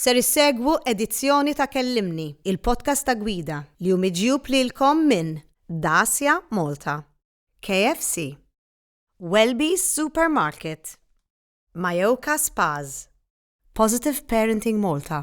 Ser issegwu edizzjoni ta' Kellimni, il-podcast ta' Gwida, li hu miġjub lilkom minn Dacia Malta, KFC, Welby's Supermarket, Mayoka Spas, Positive Parenting Malta,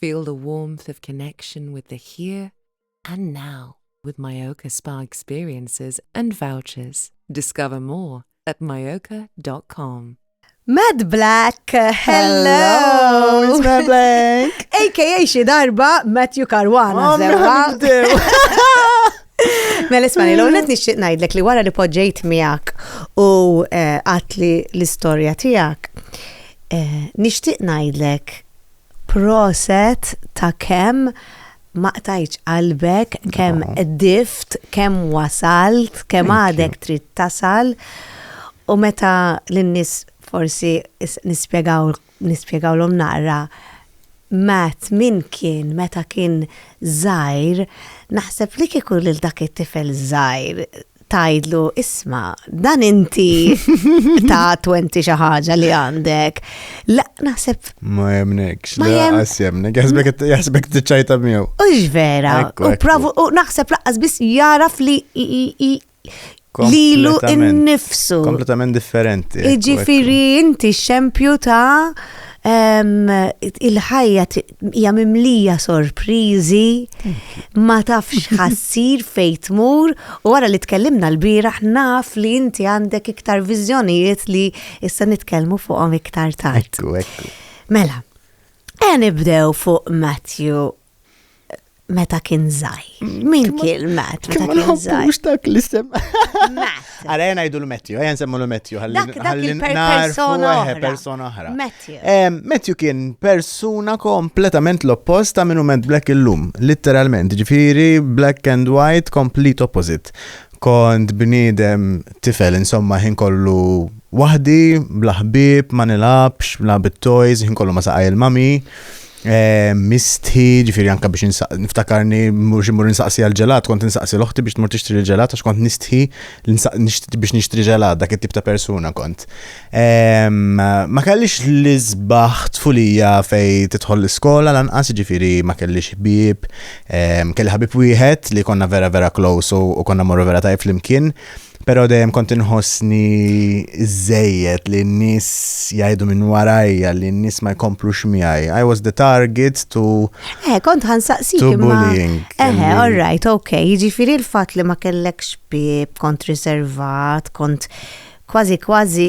Feel the warmth of connection with the here and now with Mallorca Spa experiences and vouchers. Discover more at mallorca.com. Mad Black, hello! It's Mad Black! AKA xi darba Matthew Caruana, zewwa. Mela ismani, l għonet nixtieq ngħidlek li wara li poġġejt miegħek u eh, għatli l-istorja tiegħek, eh, nixtieq ngħidlek Proset ta kemm ma qtajtx qalbek, kemm qdift, kemm wasalt, kemm għadek trid tasal u meta lin-nies forsi nispjegaw nispjegawlhom naqra Matt min kien meta kien żgħir, naħseb li kieku lil dak it-tifel żgħir tgħidlu isma' dan inti ta' 20 xi ħaġa li għandek. La naħseb. Ma jemnekx, ma jemnekx, jemnek, jaħsbek t-ċajta miegħu. U vera, u provu, u naħseb laqqas biss jaraf li lilu innifsu. Kompletament differenti. Iġifiri inti xempju ta' il-ħajja hija mimlija sorpriżi, ma tafx ħassir fejn tmur u wara li tkellimna l-bieraħ naf li inti għandek iktar viżjonijiet li issa nitkellmu fuqhom iktar tard. Mela, e nibdew fuq Matthew. meta kien zaħi. Min kien Matt meta kien zaħi? Mux dak li sem. Matt. Għara jena jdu l-Matthew, jena semmu l-Matthew. Għalli persona oħra. Persona oħra. Matthew. Matthew kien persona kompletament l-oppost ta' minu ment black illum. Literalment, ġifiri black and white, complete opposite. Kont bnidem tifel, insomma, ħin kollu wahdi, blaħbib, ma nilabx, bla bit-toys, ħin kollu ma saqaj il-mami. Eh, misti, ġifiri anka biex niftakarni, mux imur nsaqsi għal-ġelat, kont nsaqsi l-oħti biex tmur tixtri l-ġelat, għax kont nistħi biex nixtri ġelat, dak it-tip ta' persuna kont. Ehm, ma kellix li zbaħ tfulija fej titħol l-iskola, lanqas ġifiri ma kellix ħbib, ehm, kelli ħabib wieħed li konna vera vera close u konna morru vera tajf flimkien. Pero dejjem kont inħossni żejjed li n-nies jgħidu minn warajja li n-nies ma jkomplux miegħi. I was the target to Eh, kont ħansaqsik to imma. bullying. Eh, li- all right, ok. Jiġifieri l-fatt li ma kellekx bib, kont riservat, kont kważi kważi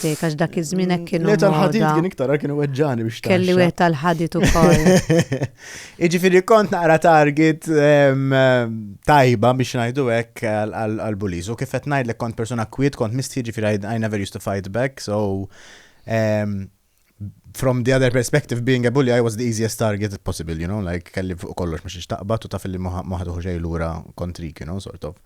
Dik għax dak iż-żmien hekk kienu. Le tal-ħadid kien iktar għal kienu weġġani biex tagħmel. Kelli wieħed tal-ħadid ukoll. Jiġifieri kont naqra target tajba biex ngħidu hekk għal buliz u kif qed ngħidlek kont persuna kwiet kont misti jiġifieri I never used to fight back so from the other perspective, being a bully, I was the easiest target possible, you know, like kelli fuq kollox ma xiex taqbat u taf li maħat uħu xej l-ura kontrik, you know, sort of.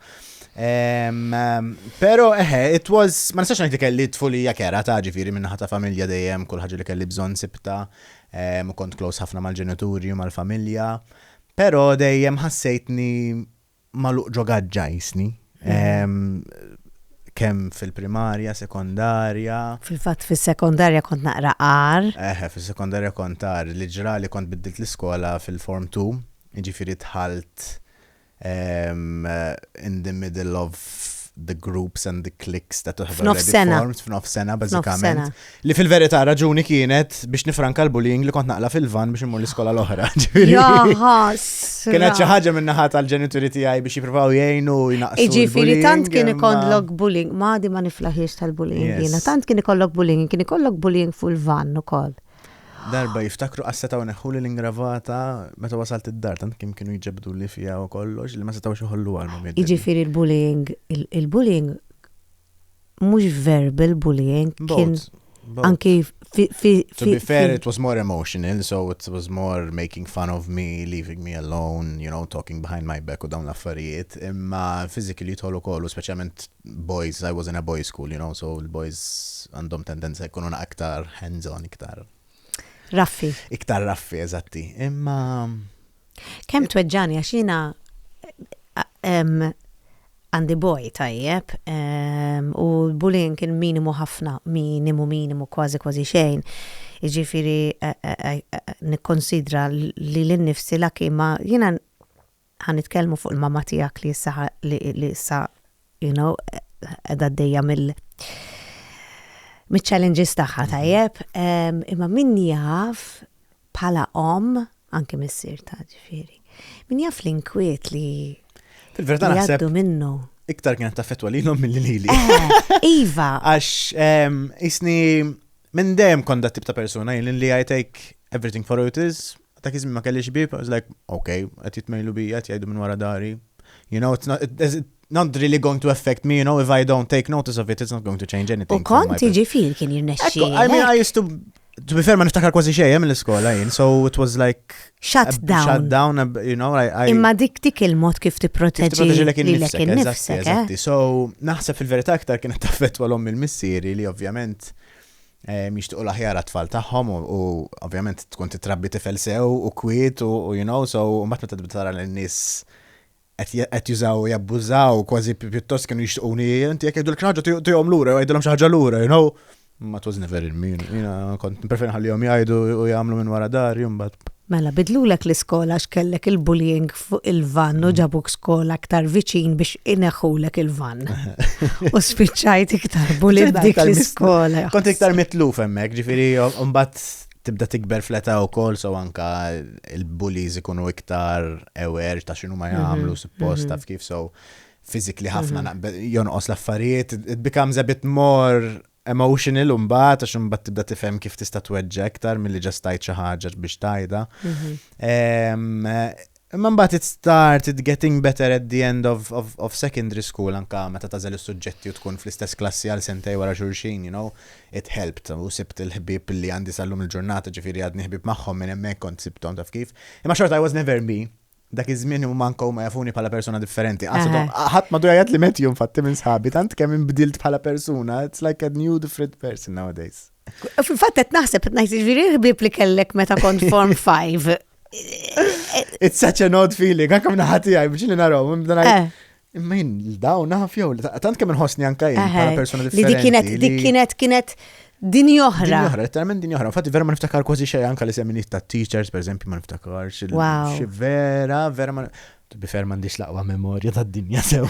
Um, um, pero, eħe, it was, ma nistax najti kelli tfulija kera ta' ġifiri minna ta' familja dejjem, kull ħagġa li kelli bżon sibta, um, kont close ħafna mal-ġenituri u mal-familja, pero dejjem ħassejtni magħluq ġo gaġġa jisni. Kemm fil-primarja, sekondarja. Fil-fatt fis-sekondarja kont naqra qar. Eħe, fis-sekondarja kont qar. Li ġrali kont biddilt l-iskola fil-Form 2, jiġifieri dħalt in the middle of the groups and the cliques that have already formed. F'nofsena. F'nofsena, bażikament. Li fil-verità raġuni kienet biex nifranka l-bullying li kont naqla fil-van biex immur l-iskola l-oħra. Jaħas. Kienet xi ħaġa minn naħa tal-ġenituri tiegħi biex jippruvaw jgħinu jnaqsu. Ġifieri tant kien ikollok bullying, madi ma niflaħiex tal-bullying jiena, tant kien ikollok bullying, kien ikollok bullying fuq il-van ukoll. Darba jiftakru qassetaw neħħu li l-ingravata meta wasalt id-dar tant kim kienu jġebdu li fija u kollox li ma setgħux iħollu għal Jiġifieri il-bullying, il-bullying mhux verbal bullying, kien anki To be fair, it was more emotional, so it was more making fun of me, leaving me alone, you know, talking behind my back u dawn l-affarijiet. Imma physically jidħol ukoll, u speċjalment boys, I was in a boys school, you know, so l-boys għandhom tendenza jkunu naqra iktar hands-on, iktar. Raffi. Iktar raffi, eżatti. Imma. Kemm tweġġani għax jiena għandi boj tajjeb ehm, u l-bullying kien minimu ħafna, minimu minimu kważi kważi xejn. Iġifiri eh, eh, eh, nikkonsidra li l-nifsi la kima jiena ħan nitkellmu fuq il-mama tiegħek li issa li issa you know, edha d-dejja mill mit-challenges taħħa tajjeb, imma min jaf pala om, anke missir ta' ġifiri, min jaf l-inkwiet li Fil-verita naħseb minnu. Iktar kienet taffetwa li l-om mill lili. Eh, iva. Għax, isni, minn dem konda tip ta' persona, jinn li I take everything for what it is, Dak iż-żmien ma kellix bieb, I was like, ok, qed jitmejlu bija, qed jgħidu minn wara dari. You know, it's not, it's not really going to affect me, you know, if I don't take notice of it, it's not going to change anything. U kont ġifir kien jirnexxi. I mean, I used to To be fair, ma niftakar kważi xejn eh, mill-iskola jien, so it was like shut down. Shut down, you know, I, I Imma dik dik il-mod kif tipproteġi lilek innifsek. Eh? So naħseb fil-verità aktar kienet taffettwa l-om il-missieri li ovvjament jixtiequ l-aħjar għat-tfal tagħhom u ovvjament tkun tittrabbi tifel sew u kwiet u you know so mbagħad meta tibda tara lin nies qed jużaw u jabbużaw kważi pjuttost kienu jixtiequni inti jekk jgħidulek xi ħaġa tihom lura jew jgħidilhom xi ħaġa lura you know ma twas never in me jiena kont preferi nħallihom jgħidu u jagħmlu minn wara dar jumbat. Mela bidlulek l-iskola għax kellek il-bullying fuq il-vann u ġabuk skola aktar viċin biex ineħħulek il-vann. U spiċċajt iktar bulit dik l-iskola. Kont iktar mitluf hemmhekk, ġifieri mbagħad tibda tikber fleta u kol, so anka il-bullies ikunu iktar aware ta' xinu ma mhm, jgħamlu suppost mhm. taf kif, so fizikli ħafna mhm. jonqos l-affarijiet, it becomes a bit more Emotional imbagħad għax imbagħad tibda tifhem kif tista' tweġġa' iktar milli ġast tgħid xi ħaġa biex tgħidha. Imma mbagħad it start it getting better at the end of, of, of secondary school anka meta tażel is-suġġetti u tkun fl-istess klassi għal sentej wara xulxin, you know, it helped u sibt il-ħbieb li għandi sal-lum il-ġurnata ġifieri għadni ħbieb magħhom minn hemmhekk kont sibthom taf kif. Imma xorta I was never me, Dak iż-żmien huma anke huma jafuni bħala persuna differenti. Qatt Eħe. ma- Ħadd m'għadu jgħid li Matthew infatti minn sħabi tant kemm inbdilt bħala persuna. It's like a new different person nowadays. Fil-fatt qed naħseb qed ngħid jiġifieri ħbieb li kellek meta kont form 5. It's such an odd feeling, anke minn ħati għaj, biex li naraw, minn bdan Eh. Imma jien l-daw naf jew, tant kemm inħossni anka jien bħala persuna differenti. Li dik kienet, dik kienet, kienet din oħra. Din oħra, letteralment din oħra. Infatti vera ma niftakar kważi xejn anka li semminit ta' teachers, per eżempju, ma niftakar. Wow. Vera, vera ma bifer mandiċ laqwa memorja ta' dinja sew.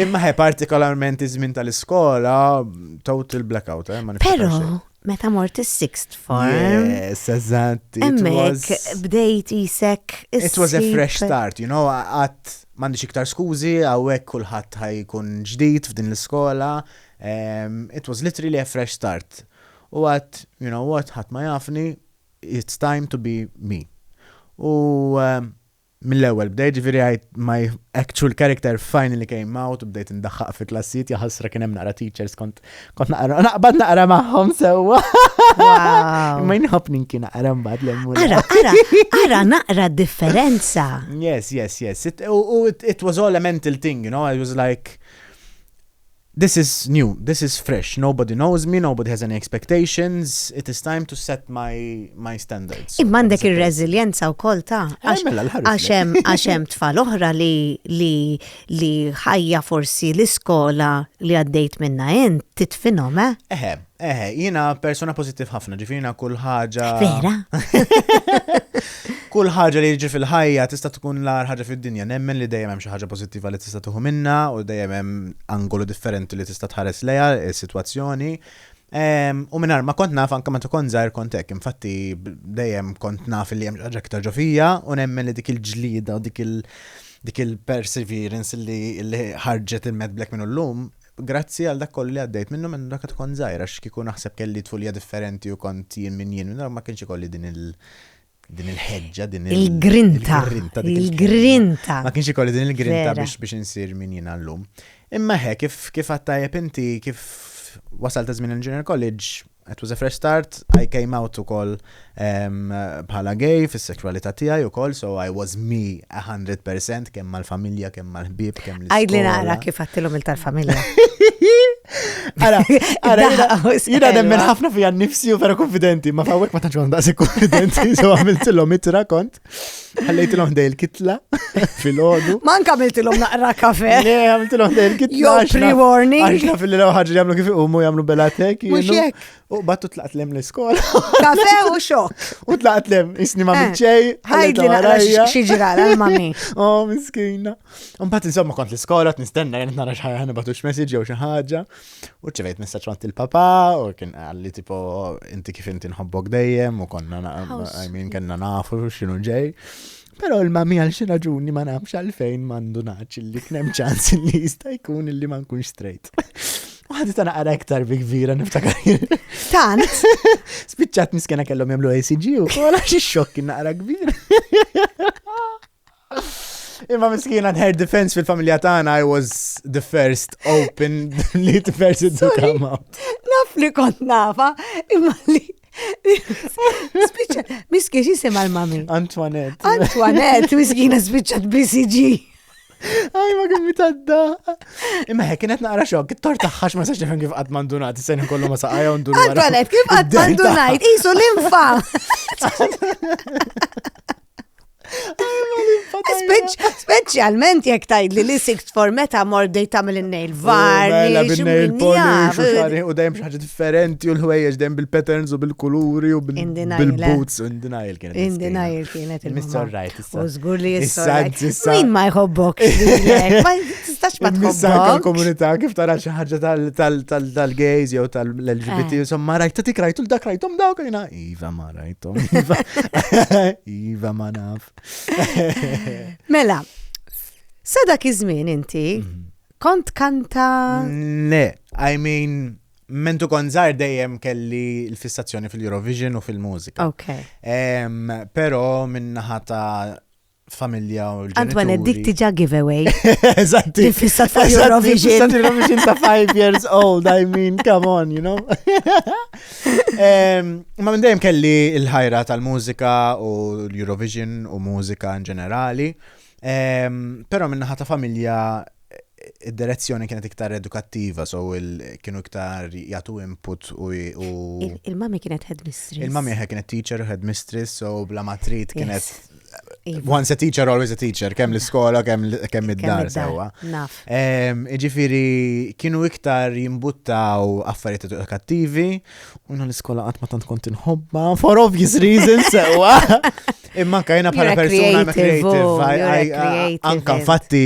Imma ħe partikolarment iż-żmien tal-iskola, total blackout, eh, ma Pero, meta mort is-sixth form. Yes, eżatt. Emmek, bdejt isek. It was a fresh start, you know, għat mandi iktar skużi, għawek kullħat ħajkun ġdid f'din l-iskola. Um, it was literally a fresh start. U għat, you know what, ħat ma jafni, it's time to be me. U um, Mill-ewwel bdejt, ġifieri għidt my actual character finally came out u bdejt indaħħaq fi klassijiet, jaħasra kien hemm naqra teachers kont kont naqra naqbad naqra magħhom sewwa. Ma jinħobb ninki naqra mbagħad l-emmur. Ara, ara, ara naqra differenza. Yes, yes, yes. It, it was all a mental thing, you know, I was like This is new, this is fresh, nobody knows me, nobody has any expectations, it is time to set my, my standards. Imma għandek ir-reżiljenza wkoll ta' eh, mela għax hemm għax hemm tfal oħra li li li ħajja forsi l-iskola li għaddejt minna int titfinhom, eh? Eħe, eh, Eħe, jina persona pozittiv ħafna, ġifirina kull ħaġa. Vera? kull ħaġa li jiġi fil-ħajja tista' tkun l-ar ħaġa fid-dinja. Nemmen li dejjem hemm xi ħaġa pozittiva li tista' tuħu minna u dejjem hemm angolu differenti li tista' tħares lejha is-sitwazzjoni. Ehm, u minar ma kont naf anka meta kont żgħir kont hekk, infatti dejjem kont naf li hemm xi ħaġa iktar ġofija u nemmen li dik il-ġlida u dik il- dik il-perseverance li ħarġet il-medblek minn l-lum, Grazzi għal dak kollu li għaddejt minnu minn meta kont żgħir għax kieku naħseb kelli tfulija differenti u kont jien minn jien minn allura ma kienx ikolli din il din il-ħeġġa, din il-grinta. Il-grinta. Ma kienx ikolli din il-grinta biex biex insir min jien għallum. Imma he, kif kif għattajep inti, kif wasal ta' żmien il-Junior College, It was a fresh start, I came out ukoll bħala gay fis-sexualita tiegħi ukoll, so I was me 100% kemm mal-familja, kemm mal-ħbieb, kemm l Għajd li nara kif għattilhom il-tal-familja. Ara, ara, jina nemmen ħafna fija nifsi u vera konfidenti, ma fawek ma tanċu għandasi konfidenti, so għamiltilhom itra kont. Ħallejtilhom dej il-kitla fil-ħodu. Man kamiltilhom naqra kafe. Le, għamiltilhom dej il-kitla. Jo, pre-warning. Għaxna fil-lila ħagġa jagħmlu kif iqumu jagħmlu belatek. Mhux jekk. U battu tlaqt lem l-iskola. Kafe u xok. U tlaqt lem, isni ma minċej. Eh, Ħajdi naqra xieġra l-mami. Oh, miskina. Mbagħad insomma kont l-iskola t-nistenna jgħan nara xħajja ħana batux message jew xi ħaġa. U ċivejt messaċ għant il-papa, u kien għalli tipo, inti kif inti nħobbok dejjem, u konna, I mean, kena nafu xinu ġej. Pero il-mami għal xi raġuni ma nafx għalfejn mandu naċ li knem ċans li jista' jkun li ma nkunx straight. U għaddi ta' naqra iktar bi kbira niftakar. Tant. Spiċċat miskena kellhom jagħmlu ACG u kola xi xokk naqra kbir. Imma miskina her defense fil-familja tagħna I was the first open li person to come out. Naf li kont nafa, imma li Spiċċa, miski jisima l-mami. Antoinette. Antoinette, miskina spiċċat BCG. Aj, ma kien mitadda. Imma hekk kienet naqra xok, it-tort taħħax ma sax nifhem kif qatt mandunat, sejn kollu ma saqajja u ndur. Antoinette, kif qatt mandunajt, isu l-infa. Speċjalment jekk tajd li l-sikt for meta mordej tagħmel in-nail var. Mela bin-nail polish u dejjem xi ħaġa differenti u l-ħwejjeġ dejjem bil-patterns u bil-kuluri u bil-boots u indinajl kienet. Indinajl kienet il-Mr. Right. U żgur li issa. Min ma jħobbok. Ma tistax ma tħobbok. komunità kif tara xi ħaġa tal-gays jew tal-LGBT, eh. insomma rajt ta' tik rajtu l-dak rajtum dawk jiena. Iva ma. Rajtom. Iva, iva ma naf. Mela, sa dak iż-żmien inti mhm. kont kanta. Le, I mean, mentu konzar dejjem kelli l-fissazzjoni fil-Eurovision u fil-mużika. Ok. Pero minnaħa ta' familja u l-ġenituri. Antoine, dik tiġa giveaway. Eżatti. Infissat fuq Eurovision. Infissat Eurovision ta' 5 years old, I mean, come on, you know. Ma minn dejjem kelli il-ħajra tal-mużika u l-Eurovision u mużika in ġenerali. Pero minnaħa ta' familja Id-direzzjoni kienet iktar edukattiva, so kienu iktar jagħtu input u. Il-mami kienet headmistress. Il-mami kienet teacher u headmistress, so bla matrit kienet. Iva. Once a teacher, always a teacher, kemm l-iskola, kemm id-dar sewa. Naf. Iġifiri, kienu iktar jimbuttaw affarijiet edukattivi, u l-iskola qatt ma tant kont inħobba, for obvious reasons sewa. Imma kajna bħala persuna creative, anka infatti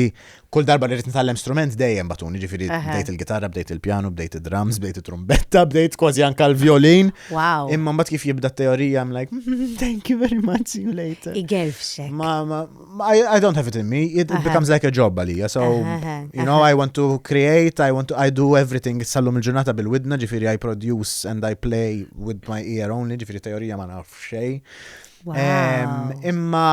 Kull darba li rrid nitgħallem strument dejjem batuni, ġifieri bdejt il-gitarra, bdejt il-pjanu, bdejt id-drums, bdejt it-trumbetta, bdejt kważi anke l-violin. Wow. Imma mbagħad kif jibda teorija I'm like, mm-hmm, thank you very much, see you later. Igelfxek. Ma, ma, I, don't have it in me, it, becomes like a job għalija, so, you know, I want to create, I want to, I do everything, sallum il-ġurnata bil-widna, ġifieri I produce and I play with my ear only, ġifieri teorija ma nafx xej. Imma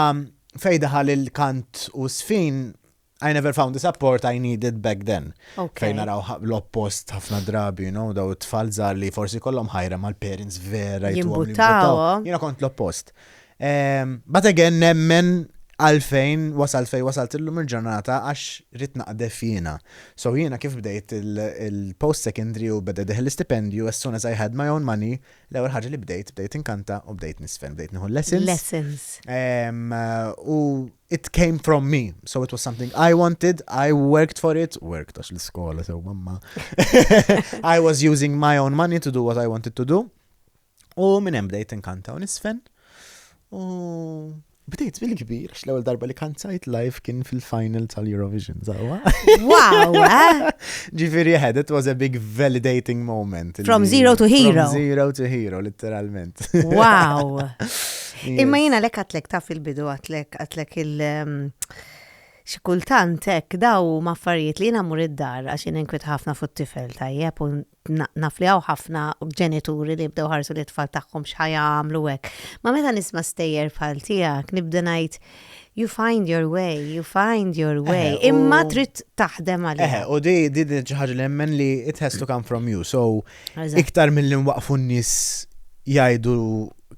Fejn daħal il-kant u s-żfin, I never found the support I needed back then. Ok. Fejn naraw ħa- l-oppost ħafna drabi, you know, daw it-tfal żgħar li forsi kollhom ħajra mal-parents vera jtuhom li Jimbuttaw. jimbuttaw. Jiena kont l-oppost. Ehm, But again, nemmen għalfejn wasalt fejn wasalt illum il-ġurnata għax ridt naqdef jiena. So jiena kif bdejt il- il-post secondary u beda jdeħħilli stipendju, as soon as I had my own money, L-ewwel ħaġa li bdejt, bdejt inkanta u bdejt nisfen, bdejt nieħu lessons. Lessons. Um, u it came from me, so it was something I wanted, I worked for it, worked għax l-iskola sew mamma. I was using my own money to do what I wanted to do. U minn hemm bdejt inkanta u nisfen. U Bdejt bil-kbir, għax l-ewwel darba li kanzajt live kien fil-final tal-Eurovision, zawa. Wow! Eh? Ġifiri head, it was a big validating moment. From zero to hero. From zero to hero, literalment. Wow! Imma jina lek għatlek taf il-bidu għatlek għatlek il- um, xikultant hekk daw maffarijiet li jina mur id-dar għax jina nkwit ħafna fuq tifel tajjeb u naf li hawn ħafna ġenituri li jibdew ħarsu li tfal tagħhom x'ħa jagħmlu hekk. Ma meta nisma' stejjer bħal tiegħek nibda ngħid you find your way, you find your way. Imma trid taħdem għalih. U di di di ħaġa li jemmen li it has to come from you. So iktar mill-li nwaqfu n-nies jgħidu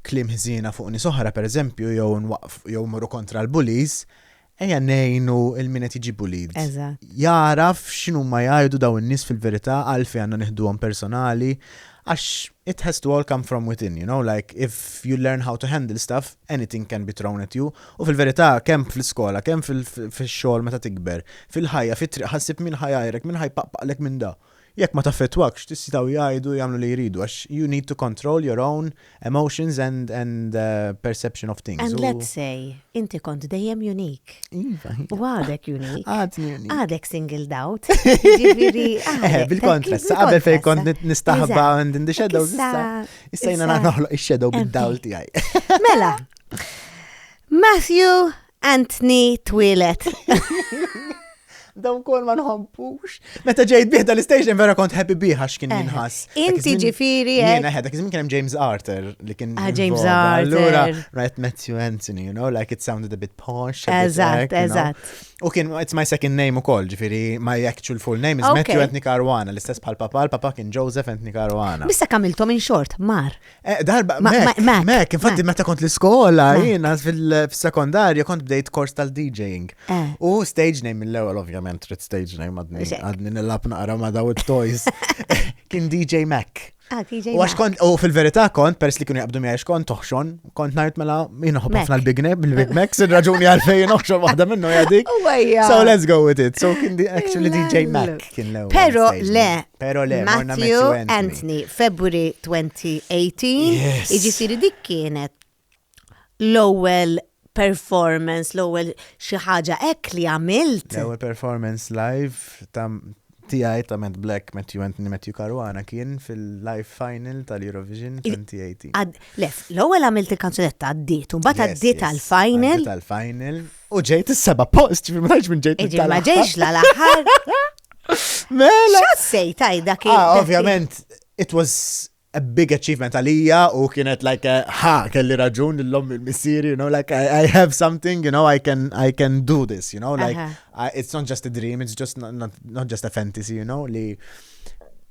klim ħżiena fuq nies oħra pereżempju jew jew morru kontra l-bullies, Ejja ngħinu il min qed jiġi bullied. Eżatt. Jagħraf x'inhuma jgħidu dawn in-nies fil-verità għalfejn għandna nieħduhom personali għax it has to all come from within, you know, like if you learn how to handle stuff, anything can be thrown at you u fil-verità kemm fl-iskola, kemm fix-xogħol meta tikber, fil-ħajja, fit-triq ħa ssib min ħa jgħajrek, min ħa jpaqpaqlek minn da. Jekk ma taffettwakx tistgħu jgħidu jagħmlu li jridu għax you need to control your own emotions and and perception of things u. And let's say inti kont dejjem unique. Iva. U għadek unique. Għadni unique. Għadek singled out. Jiġifieri għadek. Bil kontra, sa qabel fejn kont nistaħba and in the shadows issa. Issa jiena noħloq ix-shadow bid-dawl tiegħi. Mela. Matthew Anthony twilet. daw kol ma nħobbux. Meta ġejt bih dal-istation vera kont happy bih għax kien eh, jinħas. Inti ġifiri. Eh? Jena ħedha, kizmin kienem James Arthur li kien. Ah, James Arthur. Allura, right, Matthew Anthony, you know, like it sounded a bit posh. Eżat, eżat. U kien, it's my second name u kol, ġifiri, my actual full name is Matthew Anthony Caruana, l-istess bħal papa, l-papa kien Joseph Anthony Caruana. Bissa kamiltom in short, mar. Eh, darba, mek, infatti meta kont l-iskola, jina fil-sekondarja kont bdejt kors tal-DJing. Eh. U stage name mill-ewel, ovvjament, trid stage name għadni, għadni nil-lab naqra ma daw il-toys. Kien DJ Mac. Ah, u għax kont, u fil-verità kont, pers li kienu jabdu miħax kont toħxon, kont najt mela jina ħobba fna l-Big Neb, il-Big Max, il-raġuni għalfej noħxon waħda minnu jadik. Oh, so let's go with it. So kien actually DJ Mac. kien l-ewwel. Pero le, pero le, Matthew Anthony, February 2018, iġifiri dik kienet l-ewwel performance, l-ewwel xi ħaġa hekk li għamilt. L-ewwel performance live ta' tiegħi ta' Matt Black, Matthew Anthony, Matthew Caruana kien fil-live final tal-Eurovision 2018. Lef, l-ewwel għamilt il-kanzunetta għaddiet, u mbagħad għaddiet għall-final. Għaddiet għall-final. U ġejt is-seba post, ġifri ma minn ġejt il Ma ġejx la l-aħħar. Mela. Xassej tajda kif. Ah, ovvjament, it was a big achievement għalija u kienet like eh, ha kelli raġun l-lom il-missir, you know, like I, I, have something, you know, I can I can do this, you know, like uh -huh. I, it's not just a dream, it's just not, not, not just a fantasy, you know, li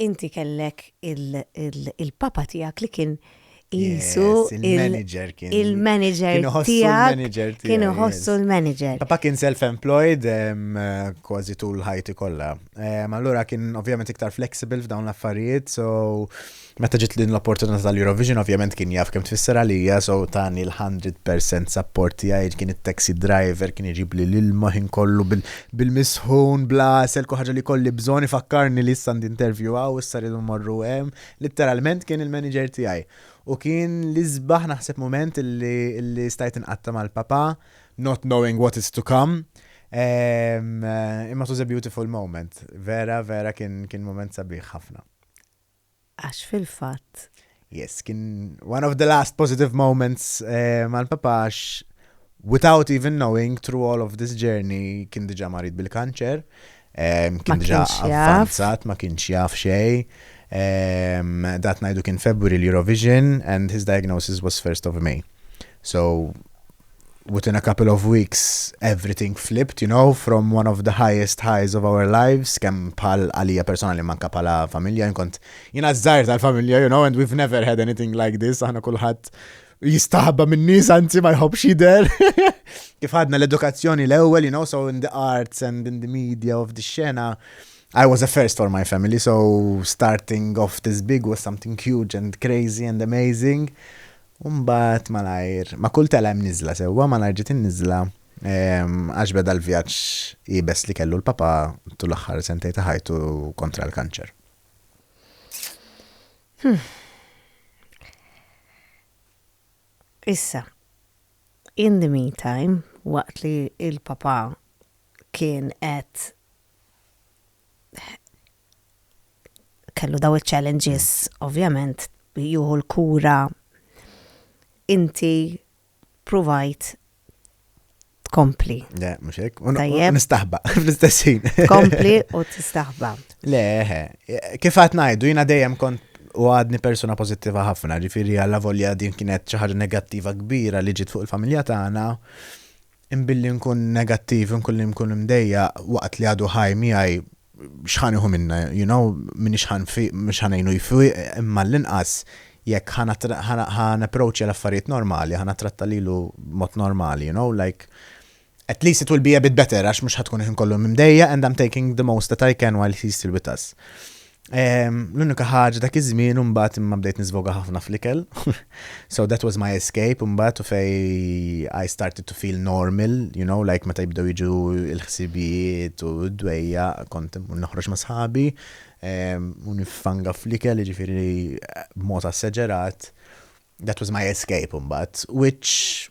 Inti kellek il-papa tiegħek li kien qisu il-manager kien. Il-manager tiegħek. Kien iħossu l-manager. Papa kien self-employed kważi tul ħajti kollha. Allura kien ovvjament iktar flexible f'dawn l-affarijiet, so meta ġiet din l-opportunità tal-Eurovision ovvjament kien jaf kemm tfisser għalija, so tani l-100% support tiegħi kien it-taxi driver kien iġibli l-ilma ħin kollu bil-misħun, bla għasel, kull ħaġa li jkolli bżonn, ifakkarni li issa għandi interview hawn, issa rridu mmorru hemm, litteralment kien il-manager tiegħi. U kien l-isbaħ naħseb mument li stajt inqatta' mal-papà, not knowing what is to come, imma it was a beautiful moment, vera vera kien mument sabiħ ħafna. Għax fil-fatt. Yes, kien one of the last positive moments eh, mal-papa għax without even knowing through all of this journey kien diġa marid bil-kanċer, ehm, kien diġa avvanzat, ma kienx jaf xej. Ehm, dat najdu kien February l-Eurovision and his diagnosis was 1st of May. So, within a couple of weeks everything flipped you know from one of the highest highs of our lives kemm bħal għalija personali manka bħala familja jien kont jiena żgħir tal-familja you know and we've never had anything like this aħna kulħadd jistaħba minn nies anzi ma jħobbx jidher kif għadna l-edukazzjoni l-ewwel you know so in the arts and in the media of the xena I was a first for my family, so starting off this big was something huge and crazy and amazing. U mbagħad malajr, ma' kull telgħa hemm niżla, sewwa, malajr ġiet in-niżla għax beda l-vjaġġ iebes li kellu l-Papa tul l-aħħar sentejn ta' ħajtu kontra l-kanċer. Issa, in the meantime, waqt li l-Papa kien qed kellu daw il-challenges, ovvjament, juhu l-kura, inti provajt tkompli. Le, mux ek, nistaħba, fl-istessin. Tkompli u tistaħba. Le, kif għat najdu, jina dejjem kont u għadni persona pozittiva ħafna, ġifiri għalla volja din kienet ċaħġa negattiva kbira li ġit fuq il-familja tagħna. Imma billi nkun negattiv, inkullim nkun imdejjaq waqt li għadu ħaj miegħi, x'ħa nieħu minnha? You know, m'iniex ħa nfiq, mhux ħa ngħinu jfiq, imma għall-inqas jekk ħa napproachja l-affarijiet normali, ħa nattratta lilu b'mod normali, you know, like, at least it will be a bit better għax mhux ħa tkun il-ħin kollu imdejjaq and I'm taking the most that I can while he's still with us. Ehm, l-unika ħaġa dak iż-żmien imbagħad imma bdejt niżvoga ħafna fl-ikel. so that was my escape imbagħad u fej I started to feel normal, you know, like meta jibdew jiġu l-ħsibijiet u d-dwejja kont noħroġ ma' sħabi ehm, u nifanga fl-ikel ġifieri b'mod asseġerat. That was my escape imbagħad, which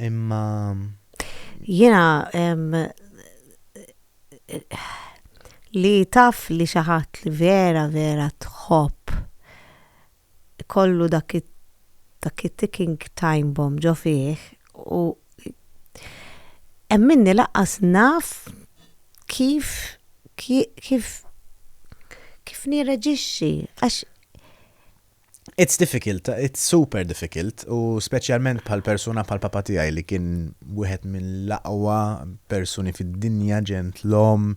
Imma. Jiena li taf li xi ħadd li vera vera tħobb kollu dak dak it-ticking time bomb ġo fih u hemm minni laqqas naf kif kif kif nirreġixxi għax It's difficult, it's super difficult u speċjalment bħal persuna bħal papa tiegħi li kien wieħed mill-aqwa persuni fid-dinja, ġentlom,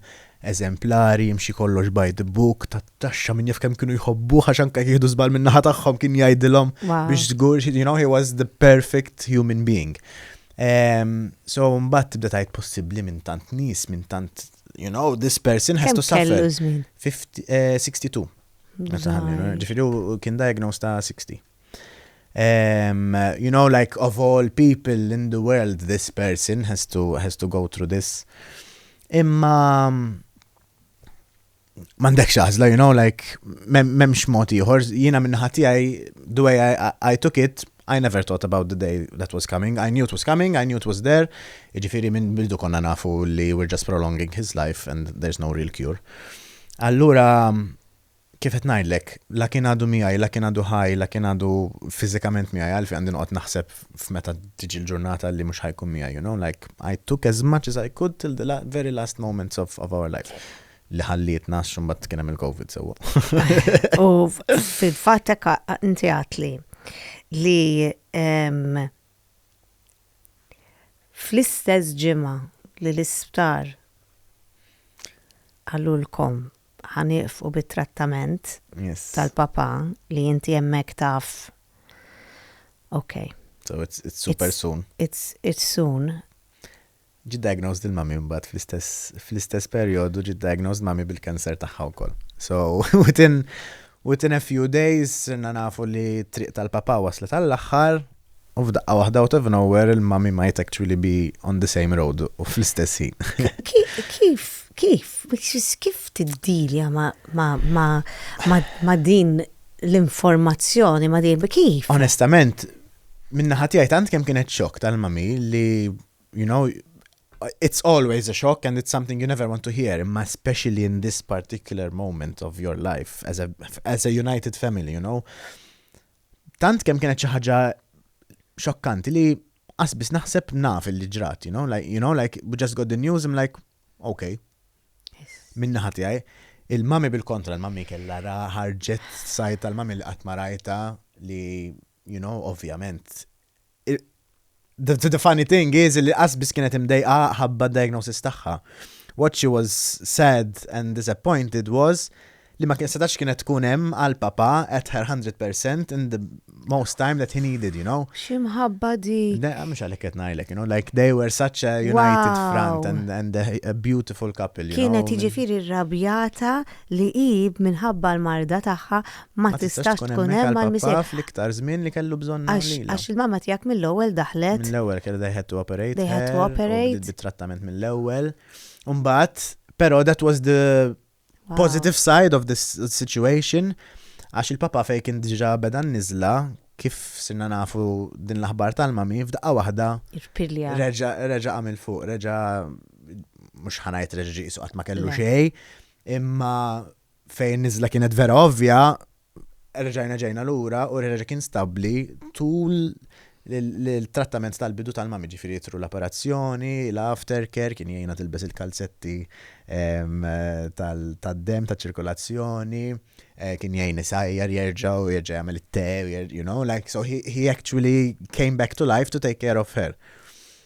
eżemplari, jimxi kollox by the book, tat-taxxa min jaf kemm kienu jħobbuh għax anke jieħdu żball min-naħa tagħhom kien jgħidilhom biex żgur, you know, he was the perfect human being. Um, so mbagħad tibda tajt possibbli minn tant nies, minn tant you know, this person has to suffer. 50, uh, 62. Ġifiri u kien diagnosed ta' 60. Um, you know, like of all people in the world, this person has to, has to go through this. Imma mandek xaħzla, you know, like, memx moti ieħor, jina minnaħat tiegħi, the way I, I took it, I never thought about the day that was coming, I knew it was coming, I knew it was there, jiġifieri minn bidu konna nafu li we're just prolonging his life and there's no real cure. Allura kif qed ngħidlek, la kien għadu miegħi, la kien għadu ħaj, la kien għadu fiżikament miegħi għalfi għandi noqgħod naħseb f'meta tiġi l-ġurnata li mhux ħajkun miegħi, you know, like I took as much as I could till the very last moments of, of our life. li ħallietna għax mbagħad kien hemm il-COVID sewwa. U fil-fatt hekk inti għatli li fl-istess ġimgħa li l-isptar għalulkom ħaniqf u bit-trattament tal-papa li inti hemmhekk taf. Ok. So it's, it's super it's, soon. It's, it's soon. Ġiet diagnosed il-mummy mbagħad fl-istess fl-istess perjodu ġiet diagnosed mummy bil-cancer tagħha wkoll. So within within a few days sirna nafu li t-triq tal-papà waslet għall-aħħar u f'daqqa waħda out of nowhere il-mummy might actually be on the same road u fl-istess ħin. Kif kif which is kif tiddilja ma' ma' ma' ma' ma' din l-informazzjoni ma' din kif? Onestament, min-naħa tiegħi tant kemm kienet xokk tal-mummy li you know, it's always a shock and it's something you never want to hear, imma especially in this particular moment of your life as a, as a united family, you know. Tant kemm kienet xi ħaġa xokkanti li qasbis naħseb naf li ġrat, you know, like, you know, like, we just got the news, I'm like, okay. Minna ħati għaj, il-mami bil-kontra, il-mami kella ħarġet sajt tal-mami li għatmarajta li you know, ovvjament, the, the funny thing is li qasbis kienet imdejqa ħabba diagnosis tagħha. What she was sad and disappointed was li ma kien setax kienet tkun hemm għal papa at her 100% in the most time that he needed, you know. Ximħabba di. Mux għalek qed ngħidlek, you know, like they were such a united wow. front and, and a, a beautiful couple, you kienet know. Kienet jiġifieri rrabjata li ib minħabba l-marda tagħha ma tistax tkun hemm mal-missier. Fl-iktar żmien li kellu bżonn lilha. Għax il-mamma tiegħek mill-ewwel daħlet. Mill-ewwel kellu they had to operate. They had to operate. Bit-trattament mill-ewwel. Imbagħad, però that was the positive side of this situation għax il-papa fejn kien diġà beda niżla kif sinna nafu din l-aħbar tal-mami f'daqqa waħda. Irpilja. Reġa' għamil fuq, reġa' mhux ħanajt reġa' ġiqsu qatt ma kellu xejn, imma fejn niżla kienet vera ovvja, reġajna ġejna lura u reġa kien stabbli tul l-trattament tal-bidu tal-mami ġifiri jitru l-apparazzjoni, l-aftercare, kien jgħina tilbes il-kalzetti tal-dem, tal-ċirkolazzjoni, eh, kien jgħin isajjar jerġaw, jerġa jgħamil il-te, you know, like, so he, he actually came back to life to take care of her.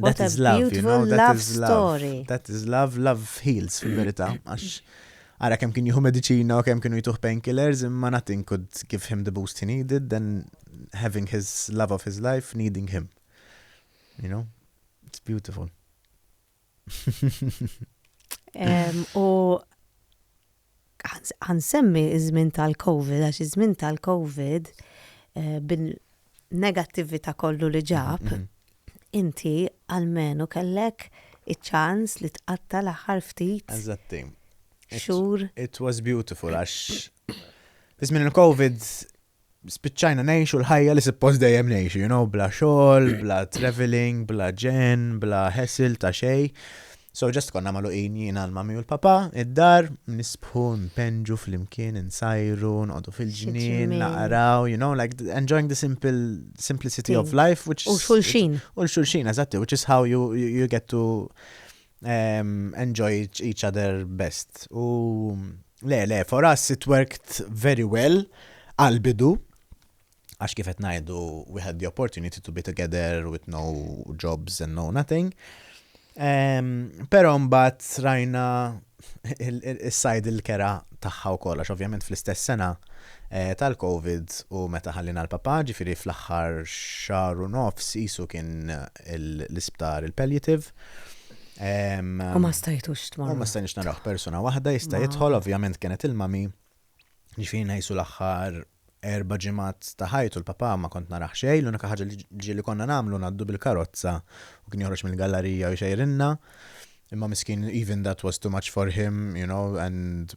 That is love, you know, that is love. That is love, love heals fil-verita. Għax, għara kem kien juhu medicina u kem kienu jtuħ painkillers, imma nothing could give him the boost he needed than having his love of his life needing him. You know, it's beautiful. U Ħa nsemmi ż-żmien tal-Covid għax iż-żmien tal-Covid bin-negattività kollu li ġab, inti almenu kellek iċ-ċans li tqatta' l-aħħar ftit xhur. It was beautiful għax fi żmien il-Covid spiċċajna ngħixu l-ħajja li suppost dejjem ngħixu, you know, bla xogħol, bla travelling, bla ġenn, bla hassle ta' xejn. So ġest konna maluqin jien għal mami u l-papa, id-dar, nisbħu, npenġu fl-imkien, nsajru, nqodu fil-ġnien, naqraw, you know, like enjoying the simple simplicity of life, which is... U xulxin. U xulxin, eżatti, which is how you, you, you get to enjoy each other best. U le, le, for us it worked very well għal-bidu, għax kifet najdu we had the opportunity to be together with no jobs and no nothing. Pero mbat rajna il-sajd il-kera taħħa u kolla, ovvjament fl-istess sena eh, tal-Covid u meta ħallina l-papa, ġifiri fl-axħar xar u nofs jisu kien l-isptar il-palliative U ma stajtux tmur. U ma stajtux naraħ persona waħda jista' jidħol, ovvjament kienet il-mami, ġifiri najsu l-axħar erba ġimat ta' ħajtu l-papa ma kont naraħ xej, l-unika ħaġa li li konna namlu naddu bil-karozza u kien joħroġ mill-gallerija u xejrinna. Imma miskin, even that was too much for him, you know, and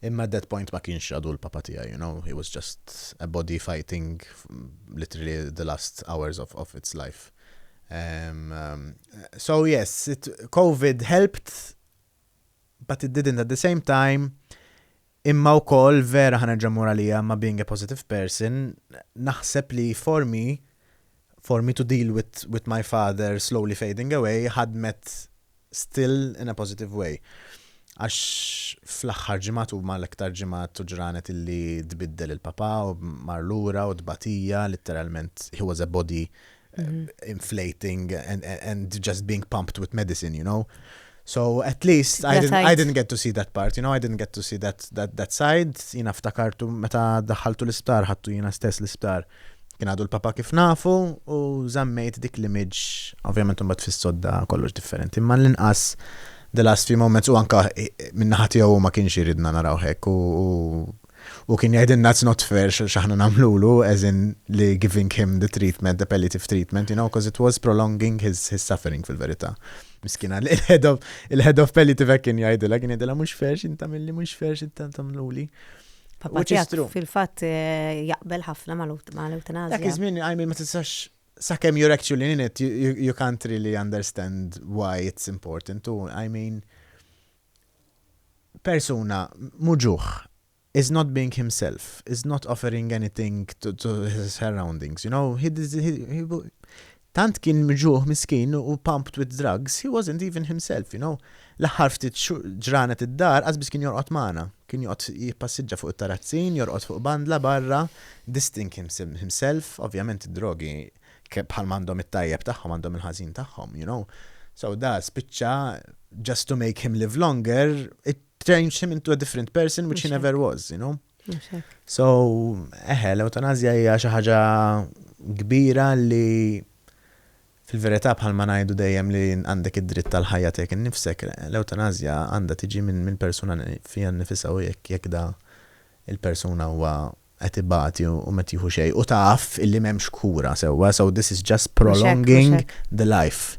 Imma at that point ma kienx għadu l-Papa tiegħi, you know, he was just a body fighting literally the last hours of of its life. Um, um, so yes, it, COVID helped, but it didn't at the same time. Imma u koll vera ħana ġamur għalija ma being a positive person, naħseb li for me, For me to deal with with my father slowly fading away ħadmet still in a positive way. Għax fl-aħħar ġimgħat huma l-iktar ġimgħat u ġranet illi tbiddel il-papà u mar lura u tbatija litteralment he was a body inflating and and just being pumped with medicine, you know. So at least I didn't, I didn't get to see that part, you know, I didn't get to see that, that, that side. Jina ftakartu meta daħħaltu l-isptar, ħattu jina stess l-isptar. Kien għadu l-Papa kif nafu u żammejt dik l-image, ovvjament imbagħad fis-sodda kollox differenti, imma l-inqas the last few moments u anka eh, min-naħa tiegħu ma kienx iridna naraw hekk u kien jgħidilna it's not fair x'aħna nagħmlulu as in li giving him the treatment, the palliative treatment, you know, because it was prolonging his, his suffering fil-verità. Miskina, il-head of, il-head of palliative kien jgħidilha, kien jgħidilha mhux fair x'inta milli mhux fair x'inta tagħmluli. Papa tiegħek fil-fatt eh, jaqbel ħafna mal-eutanazja. Dak iż-żmien għajmin ma tistax sakemm you're actually in it, you, you can't really understand why it's important. U, I mean, persuna muġuħ is not being himself, is not offering anything to, to his surroundings, you know, he, he, he, Tant kien mġugħ miskin u pumped with drugs, he wasn't even himself, you know. L-aħħar ftit ġranet id-dar qasbiż kien jorqod magħna. Kien joqgħod jippassiġġa fuq it-tarazzin, jorqod fuq bandla barra, dissting himself, ovvjament id-drogi bħalma għandhom it-tajjeb tagħhom għandhom il-ħażin tagħhom, you know. So da spiċċa just to make him live longer, it changed him into a different person which he never was, you know. So, eħe, l-eutanazja hija xi ħaġa kbira li fil-verità bħal ma ngħidu dejjem li għandek id-dritt tal-ħajja tiegħek innifsek, l-eutanazja għandha tiġi minn min persuna fiha nnifisha u jekk jekk da il-persuna huwa qed ibati u ma tieħu xejn u taf illi m'hemmx kura sewwa, so this is just prolonging the life.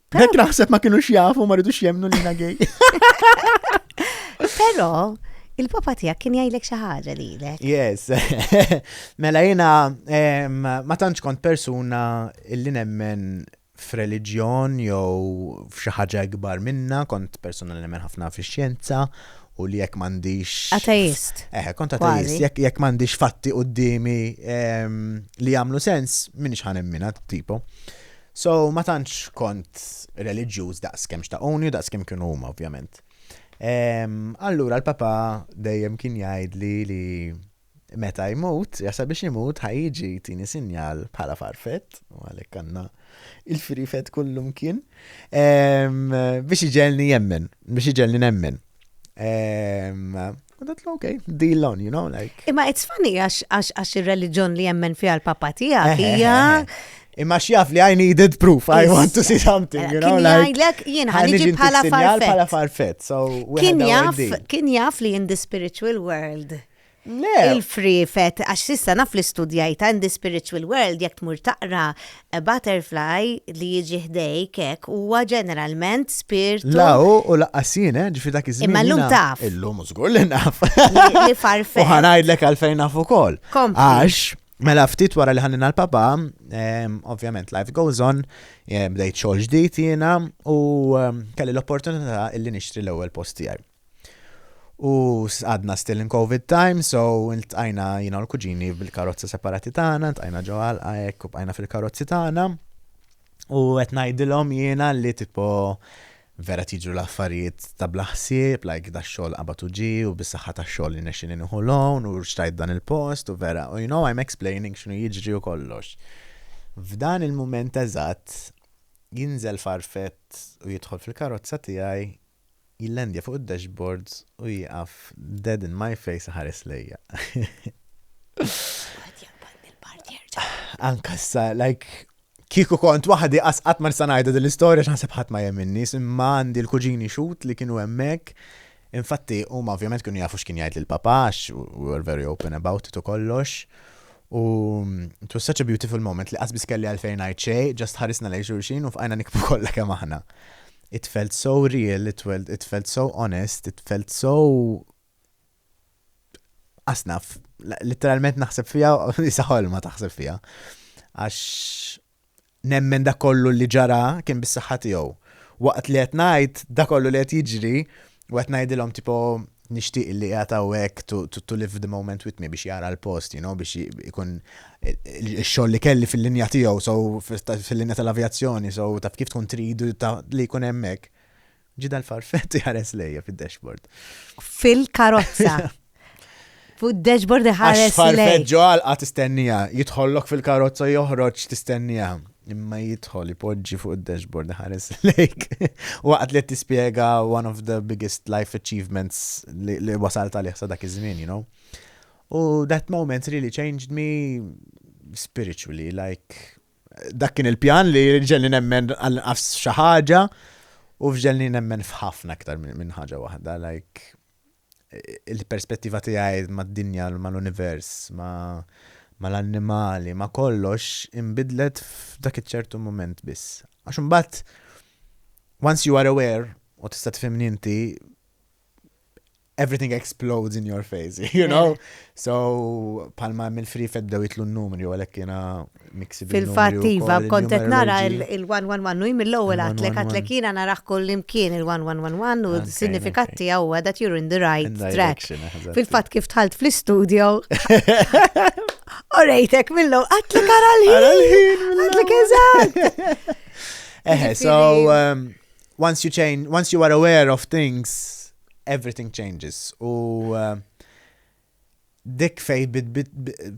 Għek naħseb ma kienu xjafu ma rridux jemnu li na gej. Pero, il-papa tijak kien jajlek xaħġa li l Yes. mela jina, ma tantx kont persuna illi nemmen f'reliġjon jew f'xi ħaġa ikbar minna, kont persuna li nemmen ħafna fix-xjenza u li jekk m'għandix. Ateist. Eh, kont ateist. Jekk jekk m'għandix fatti qudiemi ehm, li jagħmlu sens, minix ħanemmina tipo. So, ma tantx kont reliġjuż daqs kemm xtaquni u daqs kemm kienu huma ovvjament. Ehm, allura l-papa dejjem kien jgħidli li meta jmut, jasa biex jmut ħajġi tini sinjal bħala farfet, u għalek għanna il-frifet kullum kien, ehm, biex iġelni jemmen, biex iġelni nemmen. Ehm, Għadat l-ok, deal on, you know, like. Imma it's funny għax il-reliġjon li jemmen fija l-papa tija, fija. Imma xjaf li I needed proof, I want to see something, you know, like. Għajlek, jien ħanġi bħala farfet. Bħala farfet, so. Kien jaf, kien jaf li in the spiritual world. Le. Il-frifet, għax sissa naf li studjajta in the spiritual world, jek tmur taqra A butterfly li jiġi ħdejk hekk huwa ġeneralment spirtu. La hu u laqqas jien, eh, ġifi dak iż-żmien. Imma llum taf. Illum żgur li naf. Li farfet. U ħanajdlek għalfejn naf ukoll. Għax, mela ftit wara li ħannina l-papa, ehm, ovvjament life goes on, eh, bdejt xogħol ġdid jiena u ehm, kelli l-opportunità illi nixtri l-ewwel post tiegħi. U għadna still in covid time, so iltqajna jiena u l-kuġini bil-karozza separati tagħna, iltqajna ġo għalqa hekk u bqajna fil-karozzi tagħna. U qed ngħidilhom jiena li tipo vera tiġru l-affarijiet ta' bla ħsieb, like da xogħol qabad u ġi u bis-saħħa ta' xogħol li nexxini nieħu loan u xtrajt dan il-post u vera, u you know I'm explaining x'nu jiġri u kollox. F'dan il-mument eżatt jinżel farfett u jidħol fil-karozza tiegħi jillandja fuq id-dashboards u jieqaf dead in my face iħares lejja. Anka sa, like, kieku kont waħdi qasqat ma nista' ngħidha din l-istorja x'naħseb ħadd ma jeminni, imma għandi l-kuġini xut li kienu hemmhekk. Infatti, huma ovvjament kienu jafu x'kien jgħid lil papa, we were very open about it u kollox. U it was such a beautiful moment li qasbis kelli għalfejn ngħid xejn, ġast ħarisna lejn xulxin u fqajna nikbu kollha kemm aħna. it felt so real, it felt, it felt so honest, it felt so asnaf, literalment naħseb fija, jisa ħolma taħseb fija. Għax nemmen da kollu li ġara kien bis-saħħa tiegħu. Waqt li qed ngħid da kollu li qed jiġri U qed ngħidilhom tipo nixtieq li qiegħed hawnhekk to, to, to live the moment with me biex jara l-post, you know, biex ikun il-xogħol li kelli fil-linja tiegħu, so fil-linja tal-avjazzjoni, so taf kif tkun tridu ta' li jkun hemmhekk. Ġida l-farfett jħares lejja fid-dashboard. Fil-karozza. Fuq dashboard iħares. Għax farfet ġo għalqa tistennija, jitħollok fil-karozza joħroġ tistennija. Imma jitħol ipoġġi fuq id-dashboard iħares lejk. Waqt li tispjega one of the biggest life achievements li wasalt għalih sa dak iż-żmien, you know. U that moment really changed me spiritually, like dak kien il-pjan li ġelli nemmen għal nafs xi ħaġa u fġelli nemmen f'ħafna aktar minn ħaġa waħda, like il-perspettiva tiegħi mad-dinja, mal-univers, mal-annimali, ma' kollox inbidlet f'dak iċ-ċertu mument biss. Għax imbagħad once you are aware u tista' tifhimni inti everything explodes in your face, you know? So, palma mill-free feddew jitlu n-numri, u għalek jena Fil-fatt iva, kont qed nara il-111 u mill-ewwel għatlek għatlek jiena narah kull imkien il-111 u s-sinifikat tiegħu huwa that you're in the right track. Fil-fatt kif tħalt fl-istudio. Orejtek millu, għatlek ara l-ħin. Għatlek eżatt. Eħe, so um, once you change, once you are aware of things, everything changes. U uh, Dik fejn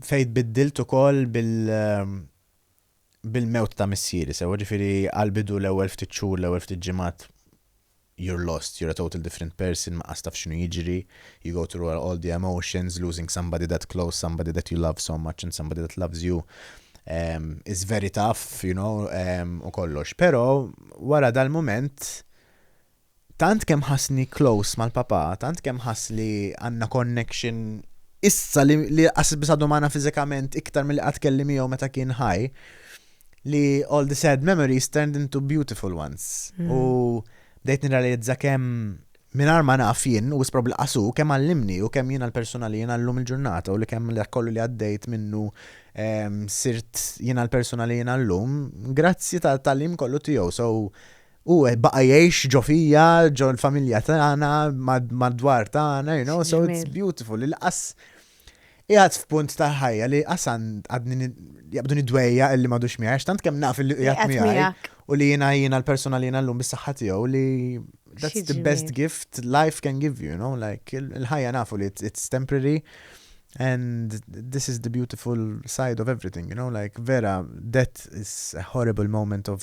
tbiddilt ukoll bil-mewt ta' missieri, sewwa? Ġifieri għall-bidu l-ewwel ftit xhur, l-ewwel ftit ġimgħat you're lost, you're a total different person, ma tqas taf x'inhu jiġri, you go through all the emotions, losing somebody that close, somebody that you love so much and somebody that loves you is very tough, you know, u kollox. Però wara dal-mument, Tant kemm ħassni close mal-Papà, tant kemm ħass li għandna connection issa li li qas biss għadu magħna fiżikament iktar milli qatt kelli miegħu meta kien ħaj, li all the sad memories turned into beautiful ones. U bdejt nirrealizza kemm mingħajr ma naf jien, u wisq probabbli qas hu, kemm għallimni u kemm jiena l-persuna li jiena llum il-ġurnata u li kemm dak kollu li għaddejt minnu sirt jiena l-persuna li jiena llum grazzi tat-tagħlim kollu tiegħu. So, Hu baqa' jgħix ġo fija, ġo l-familja tagħna, mad-dwar tagħna, you know, so it's beautiful. Il-qas jgħad f'punt tal-ħajja li qas għadni jaqbdu nidwejja illi madux miegħi, tant kemm naf illi jgħad miegħi. U li jiena jiena l-persuna li jiena llum bis-saħħa tiegħu li that's the best gift life can give you, you know, like il-ħajja nafu li it's temporary. And this is the beautiful side of everything, you know, like vera, death is a horrible moment of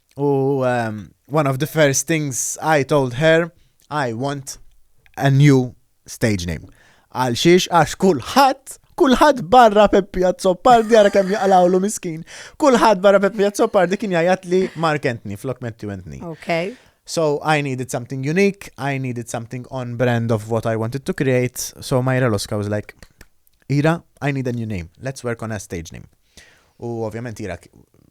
U um, one of the first things I told her, I want a new stage name. Għal xiex għax kulħadd kulħadd barra Peppi Azzopardi għara kemm jaqlawlu miskin. Kulħadd barra Peppi Azzopardi kien jgħajat li Mark Anthony flok Matthew Anthony. Okay. So I needed something unique, I needed something on brand of what I wanted to create. So Myra Loska was like, Ira, I need a new name. Let's work on a stage name. U ovvjament ira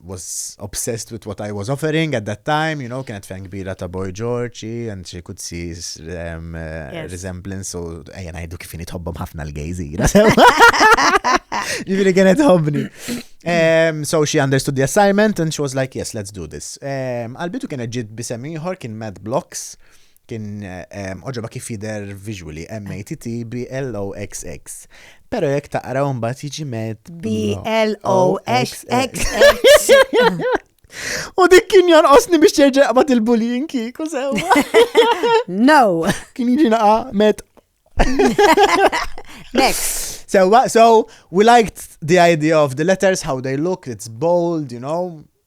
was obsessed with what I was offering at that time, you know, kienet fan kbira ta' Boy George, and she could see um, uh, resemblance, so ejja najdu kif tħobbom ħafna l-gejz ira. Ġifiri kienet tħobbni. Um, so she understood the assignment and she was like, yes, let's do this. Um, Albitu kienet ġid bisem ieħor kien Mad Blocks. Kien oġobha kif jidher visually, M-A-T-T B-L-O-X-X. Pero jekk taqra un bat jiġi met. B-L-O-X-X. U dik kien osni biex terġa' jaqbad il-bullying kieku sew. No. Kien jiġi naqa met. Next. So, so we liked the idea of the letters, how they look, it's bold, you know.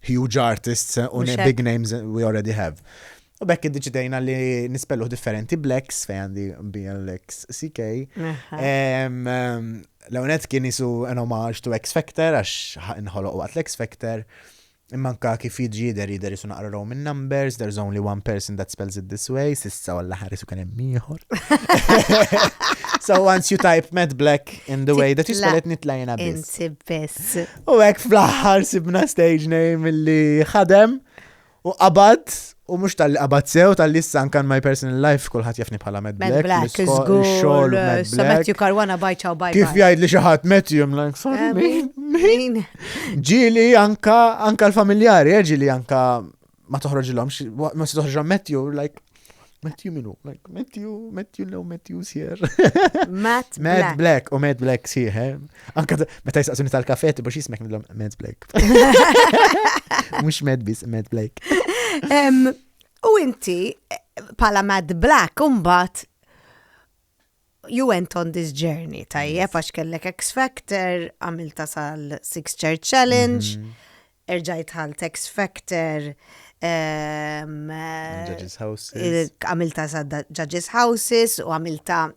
huge artists u big names we already have. U bekk id-deċidejna li nispelluh differenti blacks fej għandi BLX CK. L-għonet kien jisu an homage to X Factor għax nħoloq waqt l-X Factor. Immanka kif jiġi jider jider jisu naqra Roman numbers, there's only one person that spells it this way, sissa għalla ħaris u kien hemm So once you type Matt Black in the way that you spell it nitlajna biss. Insib biss. U hekk fl-aħħar sibna stage name li ħadem u qabad U mux tal-li qabad sew, tal-li s-san kan my personal life, kullħat jafni bħala Mad Black. Mad Black, xol, Mad uh, Black. Matthew Karwana bajċaw bajċaw. Kif jgħid li xaħat Matthew, I'm like, sorry, eh, min? Ġili anka, anka l-familjari, eh, ġili anka ma toħroġilhomx, ma se toħroġilhom Matthew, like, Matthew minu, like, Matthew, Matthew, no, Matthew sier. Matt Black. Matt Black, u Matt Black sier, he? Anka, meta jisaqsuni tal-kafe, tibu xismek nillom Matt Black. Mux Matt bis, Matt Black. U inti, pala Matt Black, umbat, You went on this journey, tajjeb, għax kellek X Factor, għamilta sal Six Church Challenge, mhm. erġajt għal X Factor, ehm, Judges Houses. Għamilta sa Judges Houses u għamilta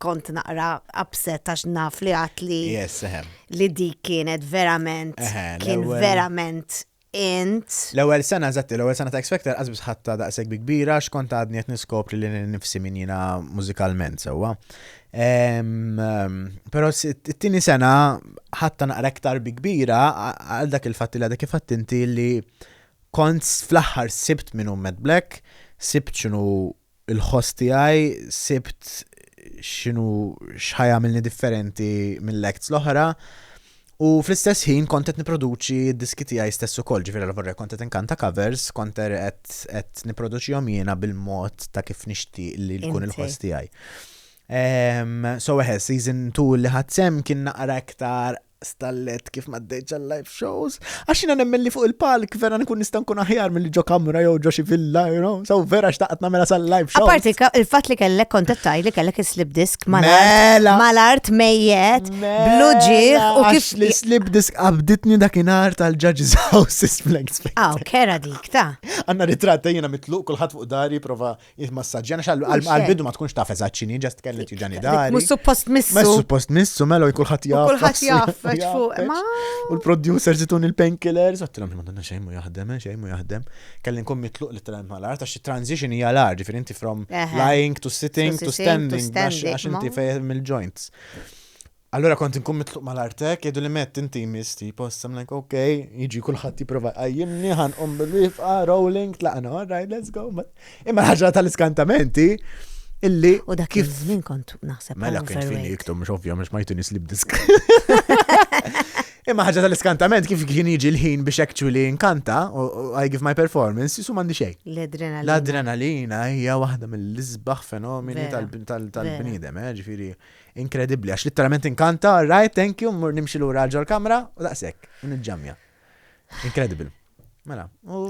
kont naqra upset għax naf li għat li. Yes, eħem. Li di kienet verament, kien verament int. L-ewwel sena, eżatti, l-ewwel sena ta' X Factor qas biss ħadtha daqshekk bi kbira għax kont għadni qed niskopri lili nnifsi min jiena mużikalment sewwa. Però t-tieni sena ħadtha naqra iktar bi kbira għal dak il-fatt li għadha kif għadt inti li kont fl-aħħar sibt minn Mad Black, sibt x'inhu il-ħoss tiegħi sibt x'inhu x'ħa jagħmilni differenti mill-acts l-oħra u fl-istess ħin kont qed nipproduċi d-diski tiegħi stess ukoll, ġifieri alla vorrek kont qed inkanta covers, kont er qed qed nipproduċihom jiena bil-mod ta' kif nixtieq li jkun Inti. il-ħoss tiegħi. Em, so eħe, season 2 li ħadd sem kien naqra iktar stallet kif m'għaddejtx għal-live shows, għax jiena nemmen li fuq il-palk vera nkun nista' nkun aħjar milli ġo kamra jew ġo xi villa, you know, so vera xtaqt nagħmela sal-live shows. Apparti il-fatt li kellek kontattaj li kellek is-slip disk mela! mal-art mejjet, mela! blu ġieħ u kif. Li slip disk qabditni dakinhar tal-Judge's House is Blank Spectre. Aw, kera dik ta'. Għanna ritratta jiena mitluq kulħadd fuq dari prova Jitmassaġġjana xallu għal-bidu ma tkunx taf eżatt x'inhi ġast kellet jiġani dari. Mhux suppost missu. Mhux suppost missu, melo kulħadd jaf. Kulħadd jaf fuq. U l-producer zitun il-painkillers, għattilhom li madonna xejn mu jaħdem, eh, xejn mu jaħdem. Kelli nkun mitluq li tram mal-art għax transition hija l-art, ġifieri inti from lying to sitting to standing għax inti fejn mill-joints. Allura kont inkun mitluq mal-art hekk, jgħiduli Matt inti jmiss tipo issa, I'm like ok, jiġi kulħadd jipprova jqajjimni, ħa nqum bil-wieqfa, rolling, tlaqna, all right let's go. Imma l-ħaġa tal-iskantament hi illi. U dak kif żmien kont naħseb. Mela kien fini iktum mhux ovvja mhux ma jtuni slip disk. Imma ħaġa tal-iskantament kif kien jiġi l-ħin biex actually nkanta u I give my performance, jisu mandi xej. L-adrenalina. L-adrenalina hija waħda mill-isbaħ fenomeni tal-bniedem, eh, ġifiri. Inkredibbli għax litteralment inkanta, right, thank you, mmur nimxi lura għal ġol kamra u daqshekk, u niġġamja. Incredible. Mela, u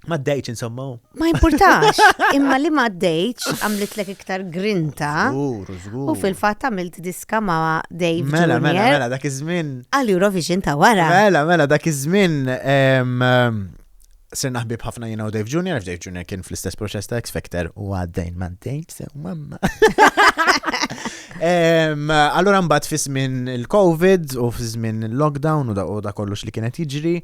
Ma d-dejċ insomma. Ma importax, imma li ma d-dejċ għamlitlek iktar grinta. Zgur, zgur. U fil-fat għamilt diska ma Dave Mela, mela, Junior mela, dak iż-żmien. għal Eurovision ta' wara. Mela, mela, dak iż-żmien em, em, Sirna ħbib ħafna jiena u Dave Junior, f'Dave Junior kien fl-istess proċess ta' X-Factor u għaddejn ma' Dave, sew mamma. Allora mbagħad fi żmien il-COVID u fi żmien il-lockdown u da kollox li kienet jiġri,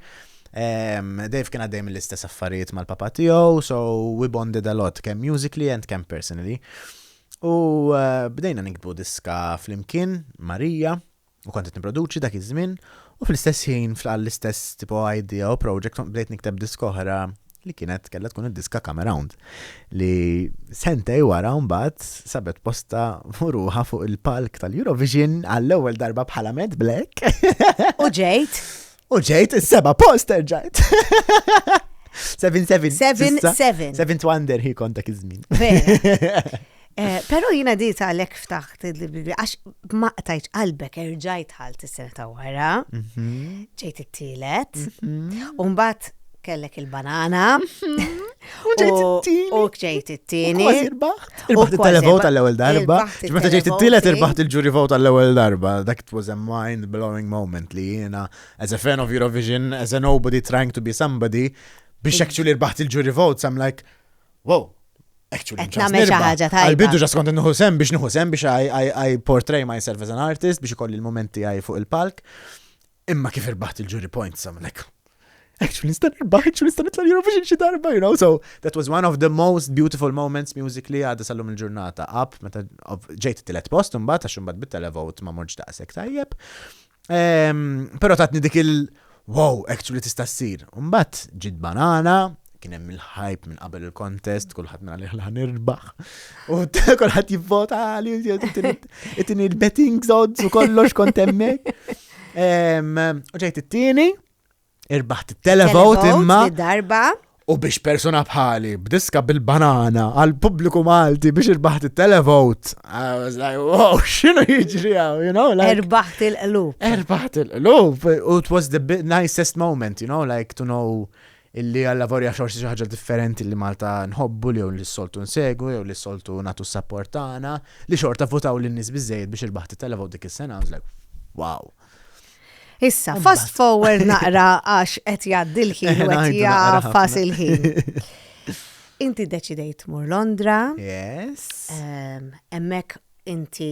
Dave kien għaddej mill-istess affarijiet mal-papa tiegħu, so we bonded a lot, kemm musically and kemm personally. U eh, bdejna nikbu diska flimkien, Marija, U kont qed nipproduċi dak iż-żmien u fl-istess ħin fl-istess tipo idea u project kont bdejt nikteb diska oħra li kienet kellha tkun id-diska Come Around li sentej wara mbagħad sabet posta furuha fuq il-palk tal-Eurovision għall-ewwel darba bħala Mad Black. U ġejt? U ġejt is-seba' post terġajt. 7-7. 7-7. 7 wonder hi kontak iż-żmien. Eh, Pero jina di ta' lek ftaħt il-Bibli, għax maqtajt qalbek erġajt ħalt is-sena ta' wara, mhm. ġejt it-tielet, mhm. un bat kellek il-banana. U ġejt it-tieni. U ġejt it-tieni. U ġejt it-televot tal-ewel darba. Ġmeta ġejt it-tielet irbaħt il-ġuri vot tal-ewel darba. Dak it was a mind-blowing moment li jena, as a fan of Eurovision, as a nobody trying to be somebody, biex actually irbaħt il-ġuri vot, I'm like, wow, actually. Namel xaħġa tajba. Għal-bidu ġas kont nħu sem biex nħu sem biex I portray myself as an artist biex ikolli l-momenti għaj fuq il-palk. Imma kif irbaħt il-jury points għamlek? Eċu nista' nirbaħ, eċu nista' nitla' l-Eurovision xi darba, you know, so that was one of the most beautiful moments musically għadha sallum il-ġurnata up, meta ġejt it-tielet post imbagħad għax imbagħad bit televot ma morġ daqshekk tajjeb. Ehm, però tatni dik il- wow, actually tista' ssir. Mbagħad ġid banana, kien hemm il-ħajp minn qabel il-kontest, kulħadd minn għalih ħan irbaħ. U kulħadd jivvota għali, it-tini il-betting zods u kollox kont hemmhekk. U ġejt it-tieni, irbaħt il-televot imma. darba. U biex persona bħali, b'diska bil-banana, għal pubbliku Malti biex irbaħt il-televot. I was like, wow, xinu jiġri għaw, you know? Like, erbaħt il-qlub. Erbaħt il-qlub. U it was the nicest moment, you know, like to know Illi għall-avolja xorsi xi ħaġa differenti li Malta nħobbu li jew li s-soltu nsegwu jew li s-soltu nagħtu s-sapport tagħna, li xorta vvutaw lin-nies biżżejjed biex il-Baħħ titella' vot dik is-sena, I was like, wow! Issa, fast forward naqra għax qed jgħaddi l-ħin u qed jgħaffas il-ħin. Inti deċidejt mur Londra. Yes. Hemmhekk inti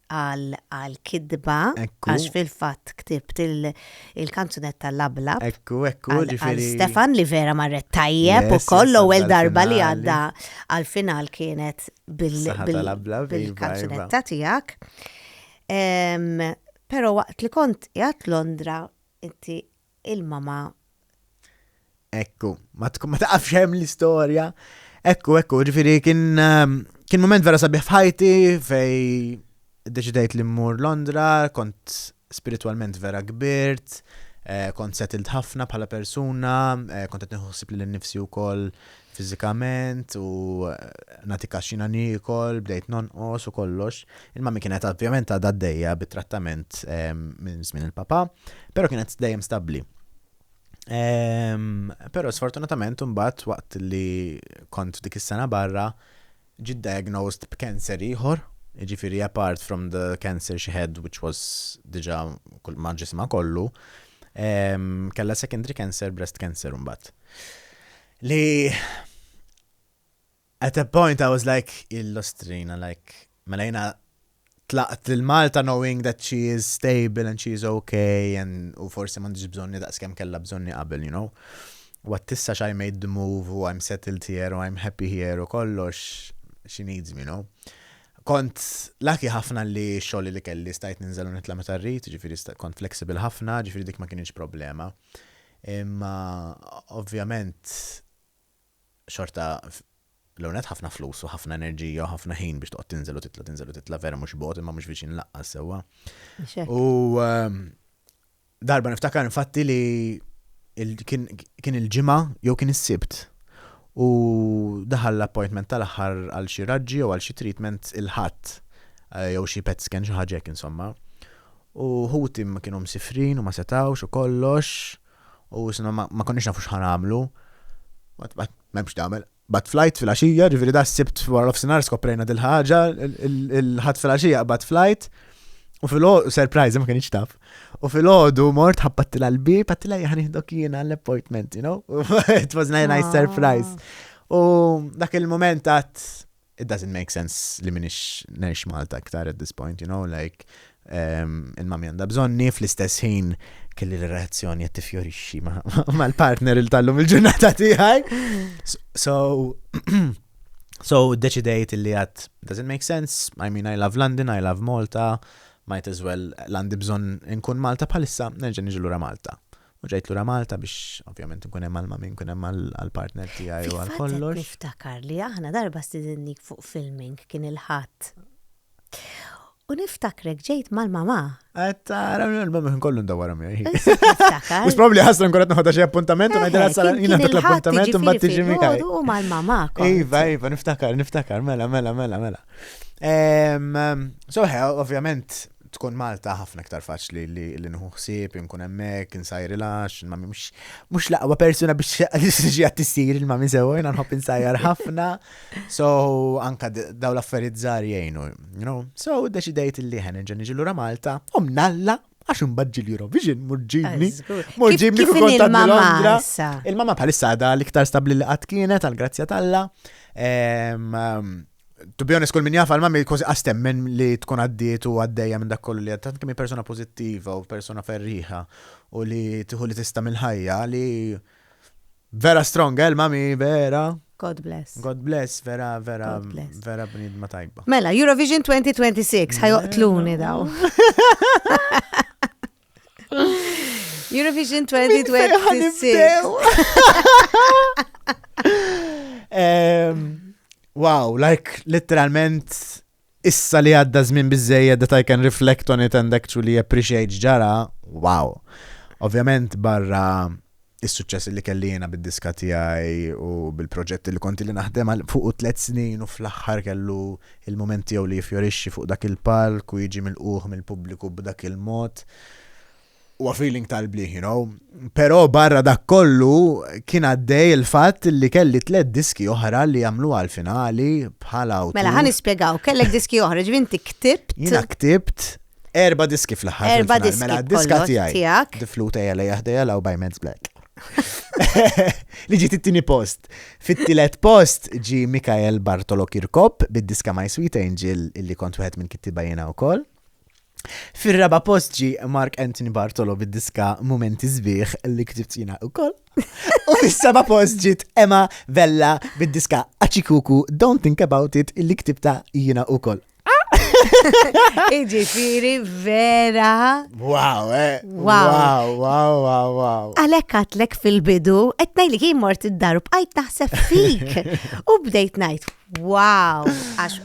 għal għal kidba Ekku. għax fil-fatt ktibt il- il-kanzunetta l-abla Ekku, ekku, għal għal ġifieri. Stefan li vera marret tajjeb Yes, u koll yes, l-ewwel għadda darba li l-finali. għadda għal-final kienet bil- Saħħa bil- tal-abla, iva, bil-kanzunetta tiegħek. Em, Però waqt li kont qiegħed Londra inti ilma ma. Ekku, ma tkun ma taqafx hemm l-istorja. Ekku, ekku, ġifieri kien ehm, kien moment vera sabiħ f'ħajti fej deċidejt li mmur Londra, kont spiritualment vera kbirt, eh, kont settled ħafna bħala persuna, eh, kont qed nieħu ħsieb li l-nifsi wkoll fiżikament u nagħti każ x'jiena niekol, bdejt nonqos u kollox. Il-mummy kienet ovvjament għadha għaddejja bit-trattament minn żmien il-papà, però kienet dejjem stabbli. Però sfortunatament imbagħad waqt li kont f'dik is-sena barra ġiet diagnosed b'cancer ieħor, jiġifieri apart from the cancer she had which was diġà kull ma' ġismha kollu, kellha secondary cancer, breast cancer imbagħad. Li at a point I was like illustrina like mela jina tlaqt lil Malta knowing that she is stable and she is okay and u forsi m'għandix bżonni daqs kemm kellha bżonni qabel, you know. What tissa I made the move u I'm settled here u I'm happy here u kollox she needs me, you know. Kont laki ħafna li xogħol li kelli stajt ninżel u nitla' meta rrid, ġifieri kont flexible ħafna, ġifieri dik ma kienx problema. Imma ovvjament xorta l-ewwel nett ħafna flus u ħafna enerġija u ħafna ħin biex toqgħod tinżel u titla' tinżel u titla' vera mhux bogħod imma mhux viċin laqqas sewwa. U darba niftakar infatti li kien il-Ġimgħa jew kien is-Sibt u daħal l-appointment tal-aħħar għal xi raġġi jew għal xi treatment il-Ħadd jew xi PET scan xi ħaġa hekk insomma. U ħuti kienu msiefrin u ma setgħux u kollox, u insomma ma ma konniex nafu x'ħa nagħmlu. Mbagħad mbagħad m'hemm x'tagħmel. Bagħad flight filgħaxija, jiġifieri da s-Sibt wara nofsinhar skoprejna dil-ħaġa, il-Ħadd filgħaxija qabad flight, u filgħo surprise, ma kinitx taf. U filgħodu mort ħabbattilha l-bieb, għedtilha ejja ħa nieħdok jiena għall-appointment, you know? It was a nice surprise. U dak il-mument għadt it doesn't make sense li minix ngħix Malta iktar at this point, you know, like ehm, il-mami għandha bżonni fl-istess ħin kelli l-reazzjoni qed tifjorixxi mal-partner il tallum il-ġurnata tiegħi. So so deċidejt li għad does it make sense? I mean I love London, I love Malta, might as well l-għandi bżonn nkun Malta bħalissa nerġa' niġi lura Malta. U ġejt lura Malta biex ovvjament nkun hemm għal ma' min, nkun hemm għall-partner tiegħi u għal kollox. Fil-fatt qed niftakar li aħna darba stidinnik fuq filming kien il-Ħadd. U niftakrek ġejt mal-mamà. Qed tara l-mamà kien kollu ndawwarhom jgħid. Issa qed niftakar. Mhux probabbli ħasra nkun qed noħodha xi appuntament u ngħidilha sa jiena dak l-appuntament imbagħad tiġi miegħi. U mal-mamà kont. Iva, iva, niftakar, niftakar, mela, mela, mela, mela. So, ovvjament, Tkun Malta ħafna iktar faċli li nieħu ħsieb, inkun hemmhekk, insajrilha, għax il-mami mhux l-aqwa persuna biex tiġi għad tissir il-mami sewwa, jiena nħobb insajjar ħafna. So anka daw l-affarijiet żgħar jgħinu, you know. So deċidejt li ħen ġen niġi lura Malta, u mnalla għax imbagħad l-Eurovision murġibni. Murġibni kif il-mama. Il-mama bħalissa għadha l-iktar stabbli li qatt kienet għal grazzja talla. Ehm, ehm, To be honest, kull min jaf għal-mammi kważi għastemmen li tkun għaddiet u għaddejja minn dak kollu li għaddat kemm persona pozittiva u persona ferriħa u li tiħu li tista mill-ħajja li vera strong, eh, mami vera. God bless. God bless, vera, vera, vera bnidma tajba. Mela, Eurovision 2026, ħajoqtluni daw. Eurovision 2026. Wow, like, literalment, issa li għadda żmien bizzejja that I can reflect on it and actually appreciate ġara, wow. Ovvjament barra is-suċċessi li kelli jiena bid-diska tiegħi u bil-proġetti li kont li naħdem għal fuqu tliet snin u fl-aħħar kellu l-mument tiegħu li jiffjorixxi fuq dak il-palk u jiġi milqugħ mill-pubbliku b'dak il-mod huwa feeling tal-bliħ, you know. Però barra dak kollu kien għaddej il-fatt li kelli tliet diski oħra li jagħmlu għal finali bħala u. Mela ħan nispjegaw, kellek diski oħra, ġvinti ktibt. Jiena ktibt Erba diski fl-ħar. Erba diski. Mela diska tijaj. Tijak. Difluta jgħala jahda jgħala u bajmenz black. Li ġiet it-tini post. Fit-tilet post ġi Mikael Bartolo Kirkop bid-diska My Sweet Angel illi kont wieħed minn kittiba jena u koll. Fir-raba post ġi Mark Anthony Bartolo bid-diska Momenti Zbieħ li ktibt jina u koll. U fis-seba post ġiet Emma Vella bid-diska Achikuku Don't Think About It illi ktibta jina u koll. Iġifiri vera. Wow, eh. Wow, wow, wow, wow. Għalek għatlek fil-bidu, etnaj li jien mort id-daru bqajt naħseb fik. U bdejt najt, wow, għax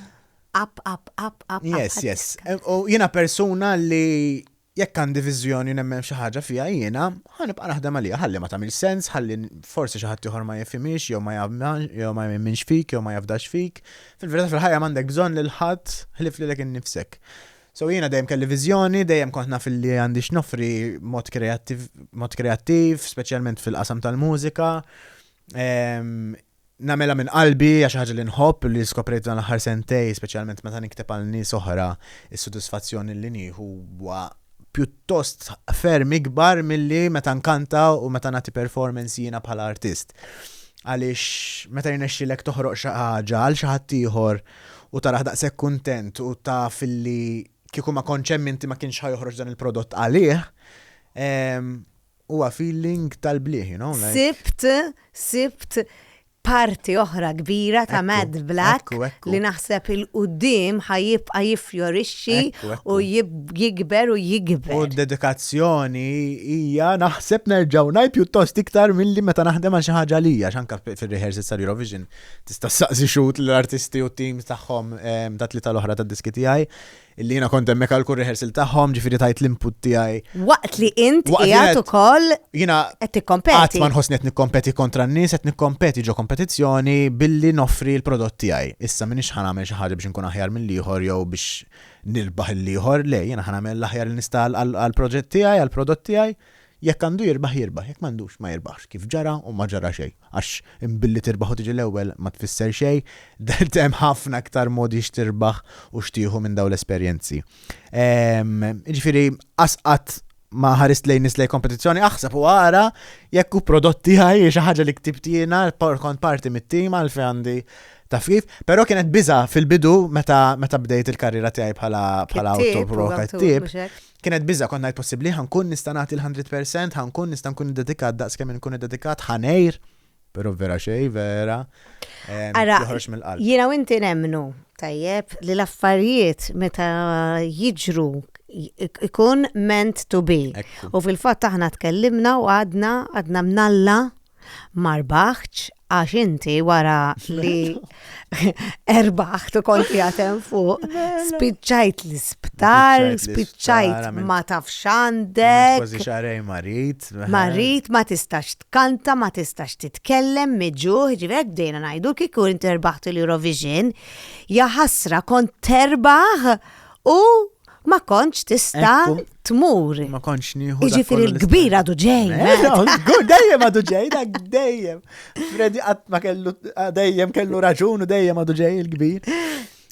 up, up, up, up. Yes, yes. U jena persona li jekk għandi viżjoni u nemmen f'xi ħaġa fiha jiena, ħa nibqa' naħdem għaliha, ħalli ma tagħmilx sens, ħalli forsi xi ħadd ieħor ma jifhimhiex jew ma jew ma jemminx fik jew ma jafdax fik. Fil-verità fil-ħajja m'għandek bżonn lil ħadd ħlief lilek innifsek. So jiena dejjem kelli viżjoni, dejjem kont naf li għandi x'noffri mod kreattiv, speċjalment fil-qasam tal-mużika. Ehm, nagħmilha minn qalbi, hija xi ħaġa li nħobb u li skoprejt f'dan l-aħħar sentejn, speċjalment meta nikteb għal nies oħra, is-sodisfazzjon li nieħu huwa pjuttost ferm ikbar milli meta nkanta u meta nagħti performance jiena bħala artist. Għaliex meta jirnexxilek toħroq xi ħaġa għal xi ħadd ieħor u tarah daqshekk kuntent u taf li kieku ma kontx hemm inti ma kienx ħa joħroġ dan il-prodott għalih, Huwa feeling tal-blieh, you know, like. Sibt, sibt parti oħra kbira ta' Mad Black li naħseb il-qudiem ħa jibqa' jiffjorixxi u jikber u jikber. U d-dedikazzjoni hija naħseb nerġgħu ngħid pjuttost iktar milli meta naħdem għal xi ħaġa li hija x'anke fir-rehearsals tal-Eurovision tista' ssaqsi xhud l-artisti u t-teams tagħhom tat-tlieta l-oħra tad-diski tiegħi. Illi jiena kont hemmhekk għal kull rehearsal tagħhom, ġifieri tajt l-input tiegħi. Waqt li int Waqt li qiegħed qed- ukoll Jiena qed qatt tikkompeti. ma nħossni qed nikkompeti kontra n-nies, qed nikkompeti ġo kompetizzjoni billi noffri l-prodott tiegħi. Issa m'iniex ħa nagħmel xi ħaġa biex inkun aħjar mill-ieħor jew biex nirbaħ lill-ieħor, le, jiena ħa nagħmel l-aħjar li nista' għal- għal- għall-proġett tiegħi, għall-prodott tiegħi. Jekk għandu jirbaħ, jirbaħ, jekk m'għandux, ma jirbaħx, kif ġara u ma ġara xejn. Għax billi tirbaħ u tiġi l-ewwel ma tfisser xejn, dert hemm ħafna iktar modi x'tirbaħ u x'tieħu minn dawn l-esperjenzi. Jiġifieri qas qatt ma ħarist lejn nies lejn kompetizzjoni, aħseb u ara jekk hu prodott tiegħi xi ħaġa li ktibt jiena kont parti mit-tim għal fejn għandi taf kif, però kienet biża fil-bidu meta bdejt il-karriera tiegħi bħala autopro kattib. Kienet biża', kont ngħid possibbli ħa nkun nista' nagħti l-hundred percent, ħa nkun nista' nkun iddedikat daqs kemm inkun iddedikat, ħa ngħir, però vera xejn vera. ehm, Ara, joħroġ mill-qalb. Jiena u inti nemmnu, tajjeb, li l-affarijiet meta jiġru ik- ikun meant to be. Ekku. U fil-fatt aħna tkellimna u għadna, għadna mnalla ma rbaħtx għax inti wara li erbaħt u konti għatem fuq, spiċċajt l-isptar, spiċċajt ma tafx għandek. Kważi xarej marit. Marit ma tistax tkanta, ma tistax titkellem, miġuħ, ġivek bdejna najdu kiku inti erbaħt l-Eurovision, jaħasra kont terbaħ u ma konċ tista tmur. Ma konċ nieħu. Iġifiri l-kbir għadu ġej. Eh, eh. Dejjem għadu ġej, dak dejjem. Fredi għat ma kellu, dejjem kellu raġun u dejjem għadu ġej il-kbir.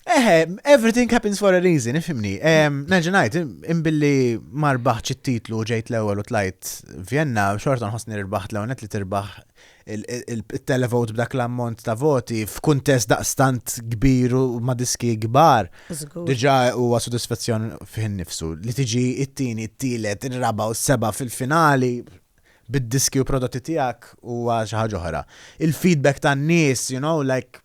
Eħe, everything happens for a reason, ifimni. Naġenajt, imbilli marbaħ ċit-titlu ġejt l-ewel u tlajt Vienna, xorta nħosni rbaħt l-ewel li tirbaħ il-televote b'dak l-ammont ta' voti f'kuntest daqstant kbir u ma' diski kbar. Diġà huwa sodisfazzjon fih innifsu li tiġi t-tieni, t-tielet, ir-raba' u s-seba' fil-finali bid-diski u prodotti tiegħek huwa xi ħaġa oħra. Il-feedback tan-nies, you know, like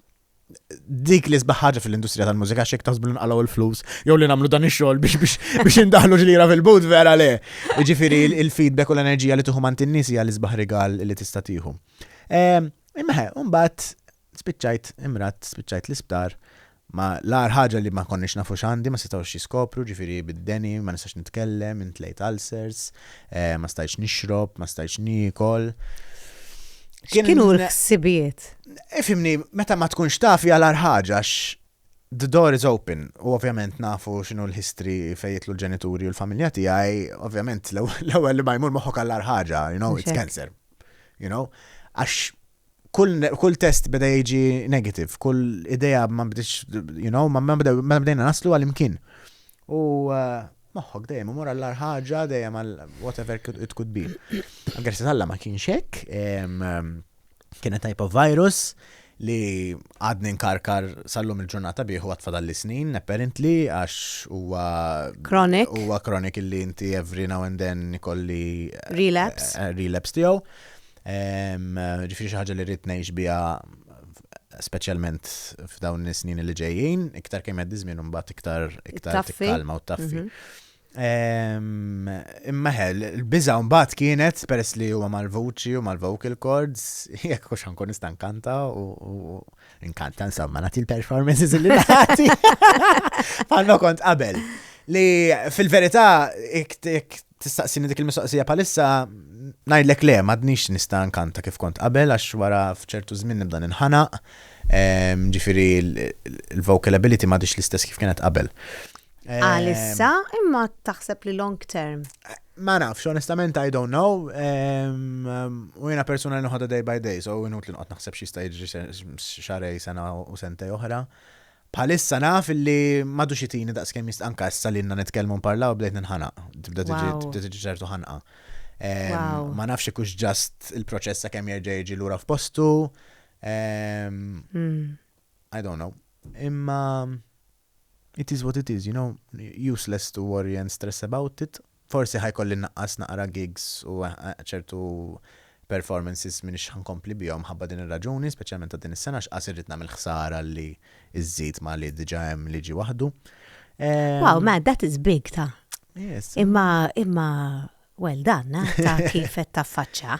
dik li sbaħ ħaġa fil-industrija tal-mużika xek taħsbu li nqalgħu l-flus jew li nagħmlu dan ix-xogħol biex biex indaħlu ġlira fil-but vera le. Jiġifieri il-feedback u l-enerġija li tieħu mant in-nies hija l-isbaħ rigal li tista' tieħu. Ehm, imma mbagħad spiċċajt imrat spiċċajt l-isptar ma l-ar ħaġa li ma konniex nafu xandi, ma setawx jiskopru, ġifiri bid-deni, ma nistax nitkellem, intlejt ulcers, eh, ma stajtx nixrob, ma stajtx nikol. Kienu l-ħsibijiet? Ifimni, eh, meta ma tkunx taf jgħal ħaġa the door is open u ovvjament nafu xinu l-history fejjitlu l-ġenituri u l-familja tiegħi, ovvjament l-ewwel li ma jmur moħħok għall ħaġa, you know, it's cancer. You know, għax kull, kull test beda jiġi negative, kull idea ma bdiċ, you know, ma bdejna naslu għal-imkien. U eh, moħħok dejjem imur għall ħaġa dejjem għal whatever it could be. Għagħersi tal ma kienx hekk, kienet type of virus li għadni nkarkar sallum il-ġurnata bieħu għatfadal li snin, apparently, għax huwa. Chronic. Huwa chronic illi inti every now and then kolli. Eh, relapse. Eh, relapse tiegħu. Ġifieri xi ħaġa li rrid ngħix biha speċjalment f'dawn is-snin li ġejjin, iktar kemm jgħaddi żmien imbagħad iktar iktar tikkalma u taffi. Mhm. Imma ħel, il-biża mbagħad kienet peress li huwa mal-vuċi u mal-vocal cords, jekk hux ankun nista' nkanta u nkanta insomma nagħti l-performances li nagħti. Bħalma kont qabel. Li fil-verità Tistaqsini dik il-mistoqsija bħalissa? Ngħidlek le, m'għadnix nista' nkanta kif kont qabel għax wara f'ċertu żmien nibda ninħanaq, ġifieri l-vocal ability m'għadhiex l-istess kif kienet qabel. Għalissa imma taħseb li long term? Ma nafx, onestament I don't know. U jiena persuna li nħodha day by day, so inut li nqgħod naħseb xi jista' jiġri xarej sena u sentej oħra. Bħalissa naf illi m'għadux itini daqskemm jist-, anke issa li ilna nitkellmu nparlaw bdejt ninħanaq, tibda tiġi, Wow. tibda tiġi ċertu ħanqa. Ehm, Wow. Ma nafx jekk hux just il-proċess sakemm jerġa' jiġi lura f'postu. Ehm, Mm. I don't know. Imma it is what it is, you know, useless to worry and stress about it. Forsi ħa jkolli nnaqqas naqra gigs u ċertu performances m'iniex ħa nkompli bihom mħabba din ir-raġuni, speċjalment ta' din is-sena għax qas irrid nagħmel ħsara li żżid ma' li diġà hemm li ġie waħdu. Wow, man, that is big ta'. Imma, imma, well done, ta' kif qed taffaċċa.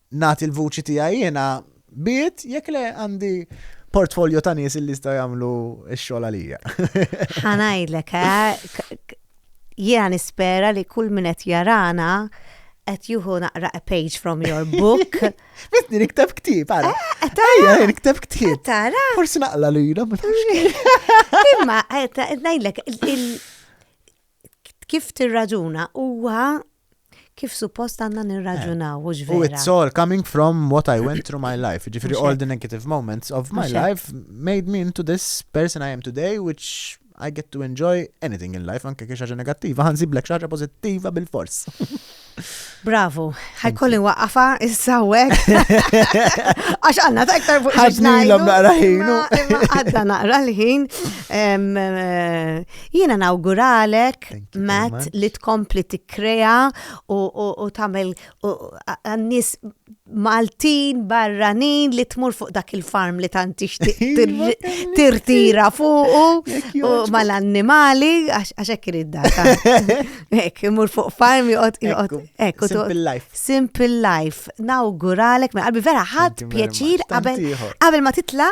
nagħti l-vuċi tiegħi jiena bid jekk le għandi portfolio ta' nies li jistgħu jagħmlu x-xogħol għalija. Ħa ngħidlek, eh, jiena nispera li kull min qed jarana qed juhu naqra a page from your book. Bitni nikteb ktib, għara. Eh, eh, Ejja, nikteb ktib. Eh, tara. Forsi naqla li jina, ma Imma, najdlek, kif tirraġuna huwa kif suppost għandna nirraġunaw, u vera. U it's all coming from what I went through my life. Ġifiri, all the negative moments of my life made me into this person I am today, which I get to enjoy anything in life, anke kiex ħaġa negattiva, ħanzi blek xaġa pozittiva bil-fors. Bravo, ħajkolli waqafa issa wek. Għax għanna ta' iktar fuq ħaġnajlu. naqra ħin. Għadda naqra l-ħin. Eh, Jena nawguralek lilek, Matt, li tkompli tikkrea u tagħmel għan-nies Maltin, barranin li tmur fuq dak il-farm li tant tixtieq iva, tirtira fuq u mal-annimali għax hekk irid data. Hekk imur fuq farm joqgħod joqgħod hekk simple life. Simple life. Nawguralek minn qalbi vera ħadd pjaċir qabel ma titla'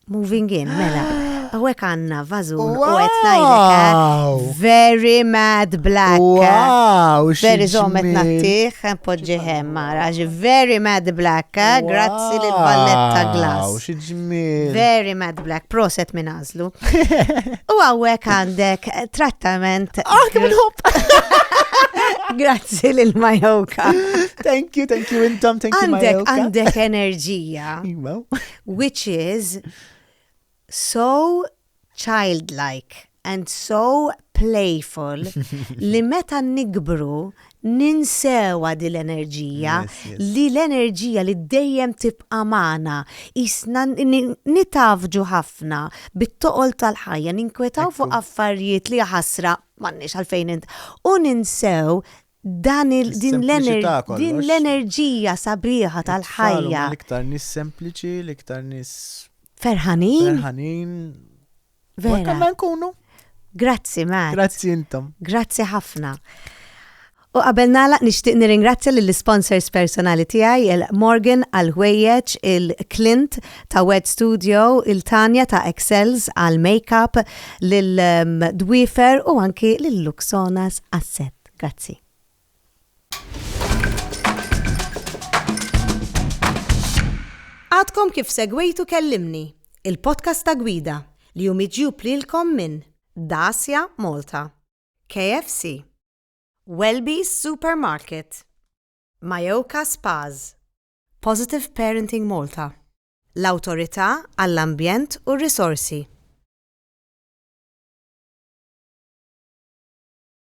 Moving in, mela. Għawek għanna vazun u għet najdek. Very mad black. Wow, Very zomet nattiħ, podġiħem mara. Very mad black, eh? grazzi li l-balletta glass. Very mad black, proset minn azlu. U għawek għandek trattament. Ah, kif Grazzi lil Majoka. Thank you, thank you intom, thank you Majoka. Għandek enerġija. which is so childlike and so playful li meta nikbru ninsewa di l-enerġija li l-enerġija li dejjem tibqa' magħna qisna nitgħaffġu ħafna bit-toqol tal-ħajja ninkwetaw fuq affarijiet li jaħasra m'għandniex għalfejn u ninsew Dan il, din l-ener, din l-enerġija sabiħa tal-ħajja. L-iktar nis sempliċi, l-iktar nis. Ferħanin. Ferħanin. Vera. Konna nkunu. Grazzi, Matt. Grazzi intom. Grazzi ħafna. U qabel nala nixtieq nirringrazzja lill sponsors personali tiegħi il-Morgan għal ħwejjeġ il-Clint ta' Wed Studio, il-Tanja ta' Excels għal makeup, lil um, Dwifer u anki lil Luxonas Asset. Grazzi. Għadkom kif segwejtu Kellimni, il-podcast ta' Gwida li hu miġjub lilkom minn Dacia Malta, KFC, Welby's Supermarket, Majoka Spas, Positive Parenting Malta, l-Awtorità għall-Ambjent u r-Risorsi.